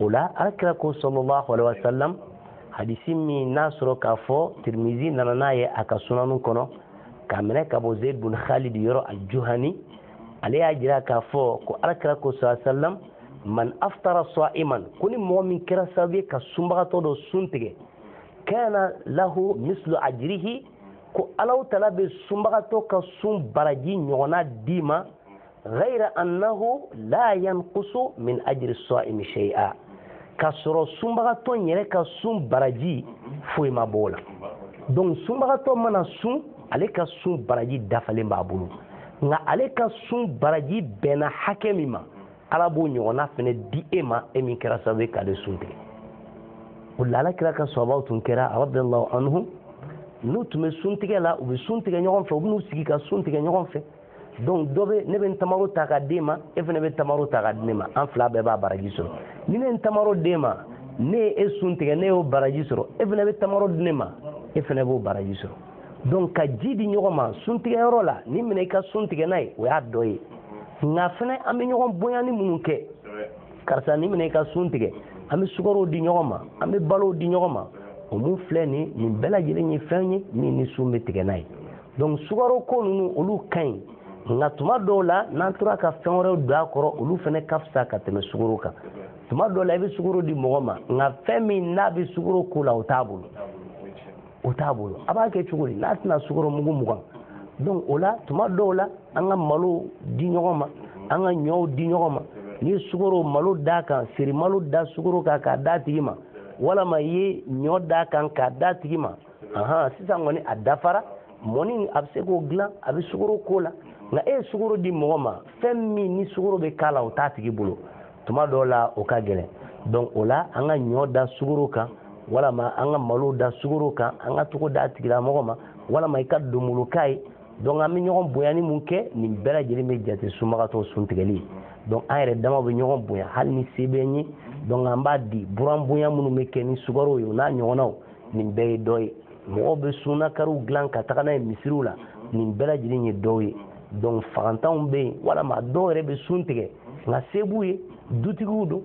S2: o la alakira ko sallallahu alayhi wa salam hadisi min n'a sɔrɔ k'a fɔ tirimizi nana n'a ye a ka sunanu kɔnɔ k'a minɛ ka bɔ zeyd bun khalid yɔrɔ aljuhani ale y'a jira k'a fɔ ko alakira ko sallallahu alayhi wa salam man aftara saiman ko ni mɔgɔ min kɛra sababu ye ka sunbagatɔ dɔ sun tigɛ kana lahu mislu ajirihi ko allahu taala bɛ sunbagatɔ ka sun baraji ɲɔgɔnna d'i ma ghayra annahu la yanqusu min ajri sa'imi shay'a k'a sɔrɔ sunbagatɔ yɛrɛ ka sun baraji foyi ma bɔ o la donc sunbagatɔ mana sun ale ka sun baraji dafalen b'a bolo nka ale ka sun baraji bɛnna hakɛ min ma ala b'o ɲɔgɔnna fana di e ma e min kɛra sababu ye k'ale sun tigɛ o la ala kira ka sahabaw tun kɛra radiallahu anhum n'u tun bɛ sun tigɛ la u bɛ sun tigɛ ɲɔgɔn fɛ u bɛ n'u sigi ka sun tigɛ ɲɔgɔn fɛ donc dɔ bɛ ne bɛ n tamaro ta k'a d'e ma e fana bɛ tamaro ta k'a di ne ma an fila bɛɛ b'a baraji sɔrɔ ni ne ye n tamaro d'e ma ne ye e sun tigɛ ne y'o baraji sɔrɔ e fana bɛ tamaro di ne ma e fana b'o baraji sɔrɔ donc ka ji di ɲɔgɔn ma sun tigɛyɔrɔ la nin minɛ i ka sun tigɛ n'a ye o y'a dɔ ye nka fana an bɛ ɲɔgɔn bonyani minnu kɛ karisa nin minɛ i ka sun tigɛ an bɛ sukaro di ɲɔgɔn ma an bɛ balo di ɲɔgɔn ma o mun filɛ nin nin bɛɛ lajɛlen ye fɛn ye min ni sun bɛ tigɛ n'a ye donc sukaro ko ninnu olu ka ɲi nka tuma dɔw la n'an tora ka fɛn wɛrɛw don a kɔrɔ olu fana ka fisa ka tɛmɛ sukoro kan tuma dɔw la i bɛ sukoro di mɔgɔ ma nka fɛn min n'a bɛ sukoro k'o la o t'a bolo o t'a bolo a b'a kɛ cogo di n'a tɛna sukoro mugu mugan donc o la tuma dɔw la an ka malo di ɲɔgɔn ma an ka ɲɔw di ɲɔgɔn ma n'i ye sukoro malo d'a kan seri malo da sukoro kan k'a d'a tigi ma walama i ye ɲɔ d'a kan k'a d'a tigi ma ahan sisan kɔni a dafara mɔni a bɛ se k'o dilan a bɛ sukoro k'o la nka e ye sukoro di mɔgɔ ma fɛn min ni sukoro bɛ k'a la o t'a tigi bolo tuma dɔw la o ka gɛlɛn donc o la an ka ɲɔ da sukoro kan walama an ka malo da sukoro kan an ka taga o d'a tigilamɔgɔ ma walama i ka donboloka ye donc an bɛ ɲɔgɔn bonyani minnu kɛ nin bɛɛ lajɛlen bɛ jate sunbagatɔ sun tigɛli ye donc an yɛrɛ dama bɛ ɲɔgɔn bonya hali ni se bɛ n ye donc an b'a di buran bonya minnu bɛ kɛ ni sukaro ye o n'a ɲɔgɔnnaw nin bɛɛ ye dɔ ye mɔgɔw bɛ sunnakariw dilan ka taga n'a ye misiriw la nin bɛɛ lajɛlen ye dɔw ye donc fagantanw bɛ yen walama dɔw yɛrɛ bɛ sun tigɛ nka se b'u ye dutigiw don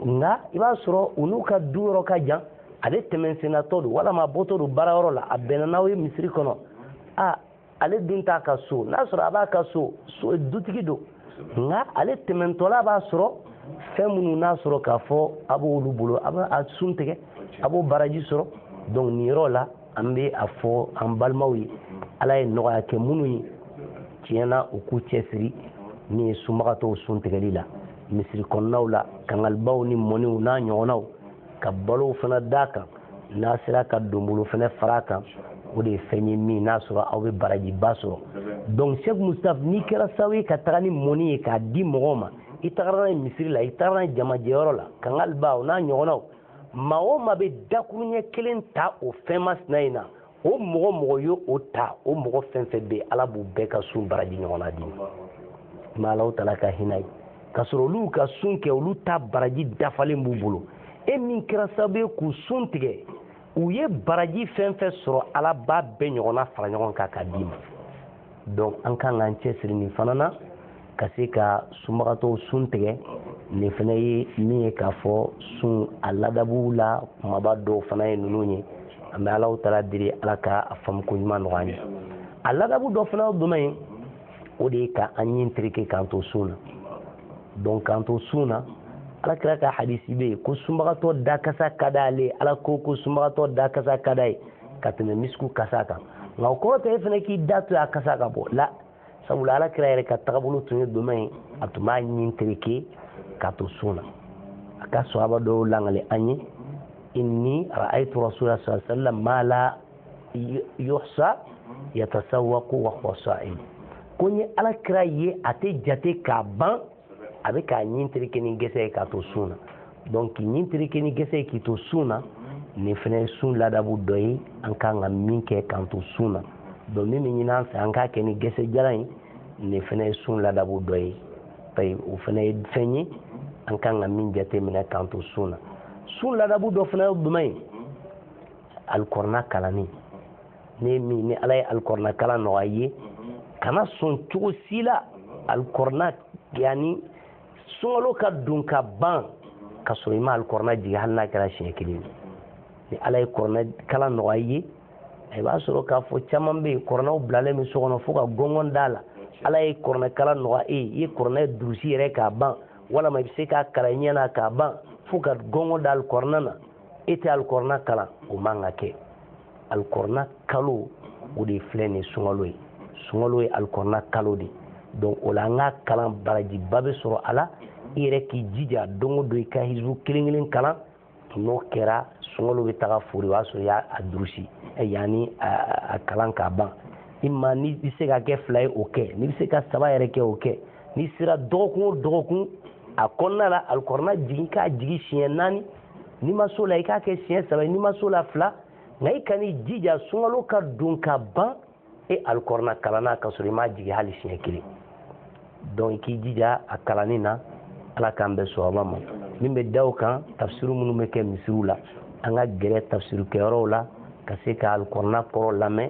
S2: nka i b'a sɔrɔ u n'u ka du yɔrɔ ka jan ale tɛmɛnsennatɔ don walama a bɔtɔ don baarayɔrɔ la a bɛnna n'aw ye misiri kɔnɔ a ale dun t'a ka so n'a sɔrɔ a b'a ka so dutigi don nka ale tɛmɛntɔla b'a sɔrɔ fɛn minnu n'a sɔrɔ k'a fɔ a b'olu bolo a bɛ a sun tigɛ a b'o baraji sɔrɔ donc nin yɔrɔ la an bɛ a fɔ an balimaw ye ala ye nɔgɔya kɛ minnu ye tiɲɛ na u k'u cɛsiri min ye sunbagatɔw sun tigɛli la misiri kɔnɔnaw la kangalibaw ni mɔniw n'a ɲɔgɔnnaw ka balow fana d'a kan n'a sera ka donbolo fana fara a kan o de ye fɛn ye min n'a sɔrɔ aw bɛ barajiba sɔrɔ donc Cheikh Moustapha n'i kɛra sababu ye ka taga ni mɔni ye k'a di mɔgɔw ma i tagara n'a ye misiri la i tagara n'a ye jamajɛyɔrɔ la kangaliba o n'a ɲɔgɔnnaw maa o maa bɛ dakuruɲɛ kelen ta o fɛn masina in na o mɔgɔ o mɔgɔ ye o ta o mɔgɔ fɛn fɛn bɛ ala b'u bɛɛ ka sun baraji ɲɔgɔnna d'i ma alahu taala ka hinɛ ye k'a sɔrɔ olu ka sun kɛ olu ta baraji dafalen b'u bolo e min kɛra sababu ye k'u sun tigɛ u ye baraji fɛn fɛn sɔrɔ ala b'a bɛɛ ɲɔgɔnna fara ɲɔgɔn kan k'a d'i ma donc an kan k'an cɛsiri nin fana na ka se ka sunbagatɔw sun tigɛ nin fana ye min ye k'a fɔ sun a ladabuw la kumaba dɔw fana ye ninnu ye an bɛ alahu taala deli ala ka a faamuko ɲuman nɔgɔya an ye a ladabu dɔ fana ye jumɛn ye o de ye ka an ɲin tereke k'an to sun na donc k'an to sun na ala kira ka hadisi bɛ yen ko sunbagatɔ dakasa ka d'ale ala ko ko sunbagatɔ dakasa ka d'a ye ka tɛmɛ misiku kasa kan nka o kɔrɔ tɛ e fana k'i da to a kasa ka bɔ la sabula ala kira yɛrɛ ka tagabolo tun ye jumɛn ye a tun b'a ɲin tereke k'a to sun na a ka sahaba dɔw lakali an ye inni ra'aytu rasulullah sallallahu alaihi wasallam ma la yuhsa yatasawwaku wa huwa sa'im ko n ye ala kira ye a tɛ jate k'a ban a bɛ k'a ɲin tereke ni gɛsɛ ye k'a to sun na donc k'i ɲin tereke ni gɛsɛ ye k'i to sun na nin fana ye sun ladabu dɔ ye an kan ka min kɛ k'an to sun na donc min bɛ ɲini an fɛ an k'a kɛ ni gɛsɛ jalan ye nin fana ye sun ladabu dɔ ye ayi o fana ye fɛn ye an kan ka min jateminɛ k'an to sun na sun ladabu dɔ fana ye jumɛn ye alikɔrɔna kalanni ne min ni ala ye alikɔrɔna kalan nɔgɔya i ye kana sɔn cogo si la alikɔrɔna yanni sunkalo ka don ka ban ka sɔrɔ i ma alikɔrɔna jigin hali n'a kɛra siɲɛ kelen ni ala ye kɔrɔna kalan nɔgɔya i ye i b'a sɔrɔ k'a fɔ caman bɛ yen kɔrɔnaw bilalen bɛ so kɔnɔ fo ka gɔngɔn d'a la ala ye kɔrɔna kalan nɔgɔya e ye i ye kɔrɔna durusi yɛrɛ k'a ban walama i bɛ se k'a kalan i ɲɛ na k'a ban fo ka gɔngɔn da alikɔrɔna na e tɛ alikɔrɔna kalan o man ka kɛ alikɔrɔna kalo o de filɛ nin sunkalo ye sunkalo ye alikɔrɔna kalo de donc o la an ka kalan barajiba bɛ sɔrɔ a la i yɛrɛ k'i jija don o don i ka hizibu kelen kelen kalan n'o kɛra sunkalo bɛ taga fori o y'a sɔrɔ i y'a durusi yanni a kalan k'a ban i ma n'i bɛ se k'a kɛ fila ye o kɛ n'i bɛ se ka saba yɛrɛ kɛ o kɛ n'i sera dɔgɔkun o dɔgɔkun a kɔnɔna la alikɔrɔna jigin k'a jigin siɲɛ naani n'i ma s'o la i k'a kɛ siɲɛ saba n'i ma s'o la fila nka i kan'i jija sunkalo ka don ka ban e alikɔrɔna kalanna ka sɔrɔ i m'a jigin hali siɲɛ kelen donc i k'i jija a kalanni na ala k'an bɛn sawaba ma min bɛ da o kan tafsiri minnu bɛ kɛ misiriw la an ka gɛrɛ tafsirikɛyɔrɔw la ka se ka alikɔrɔna kɔrɔ lamɛn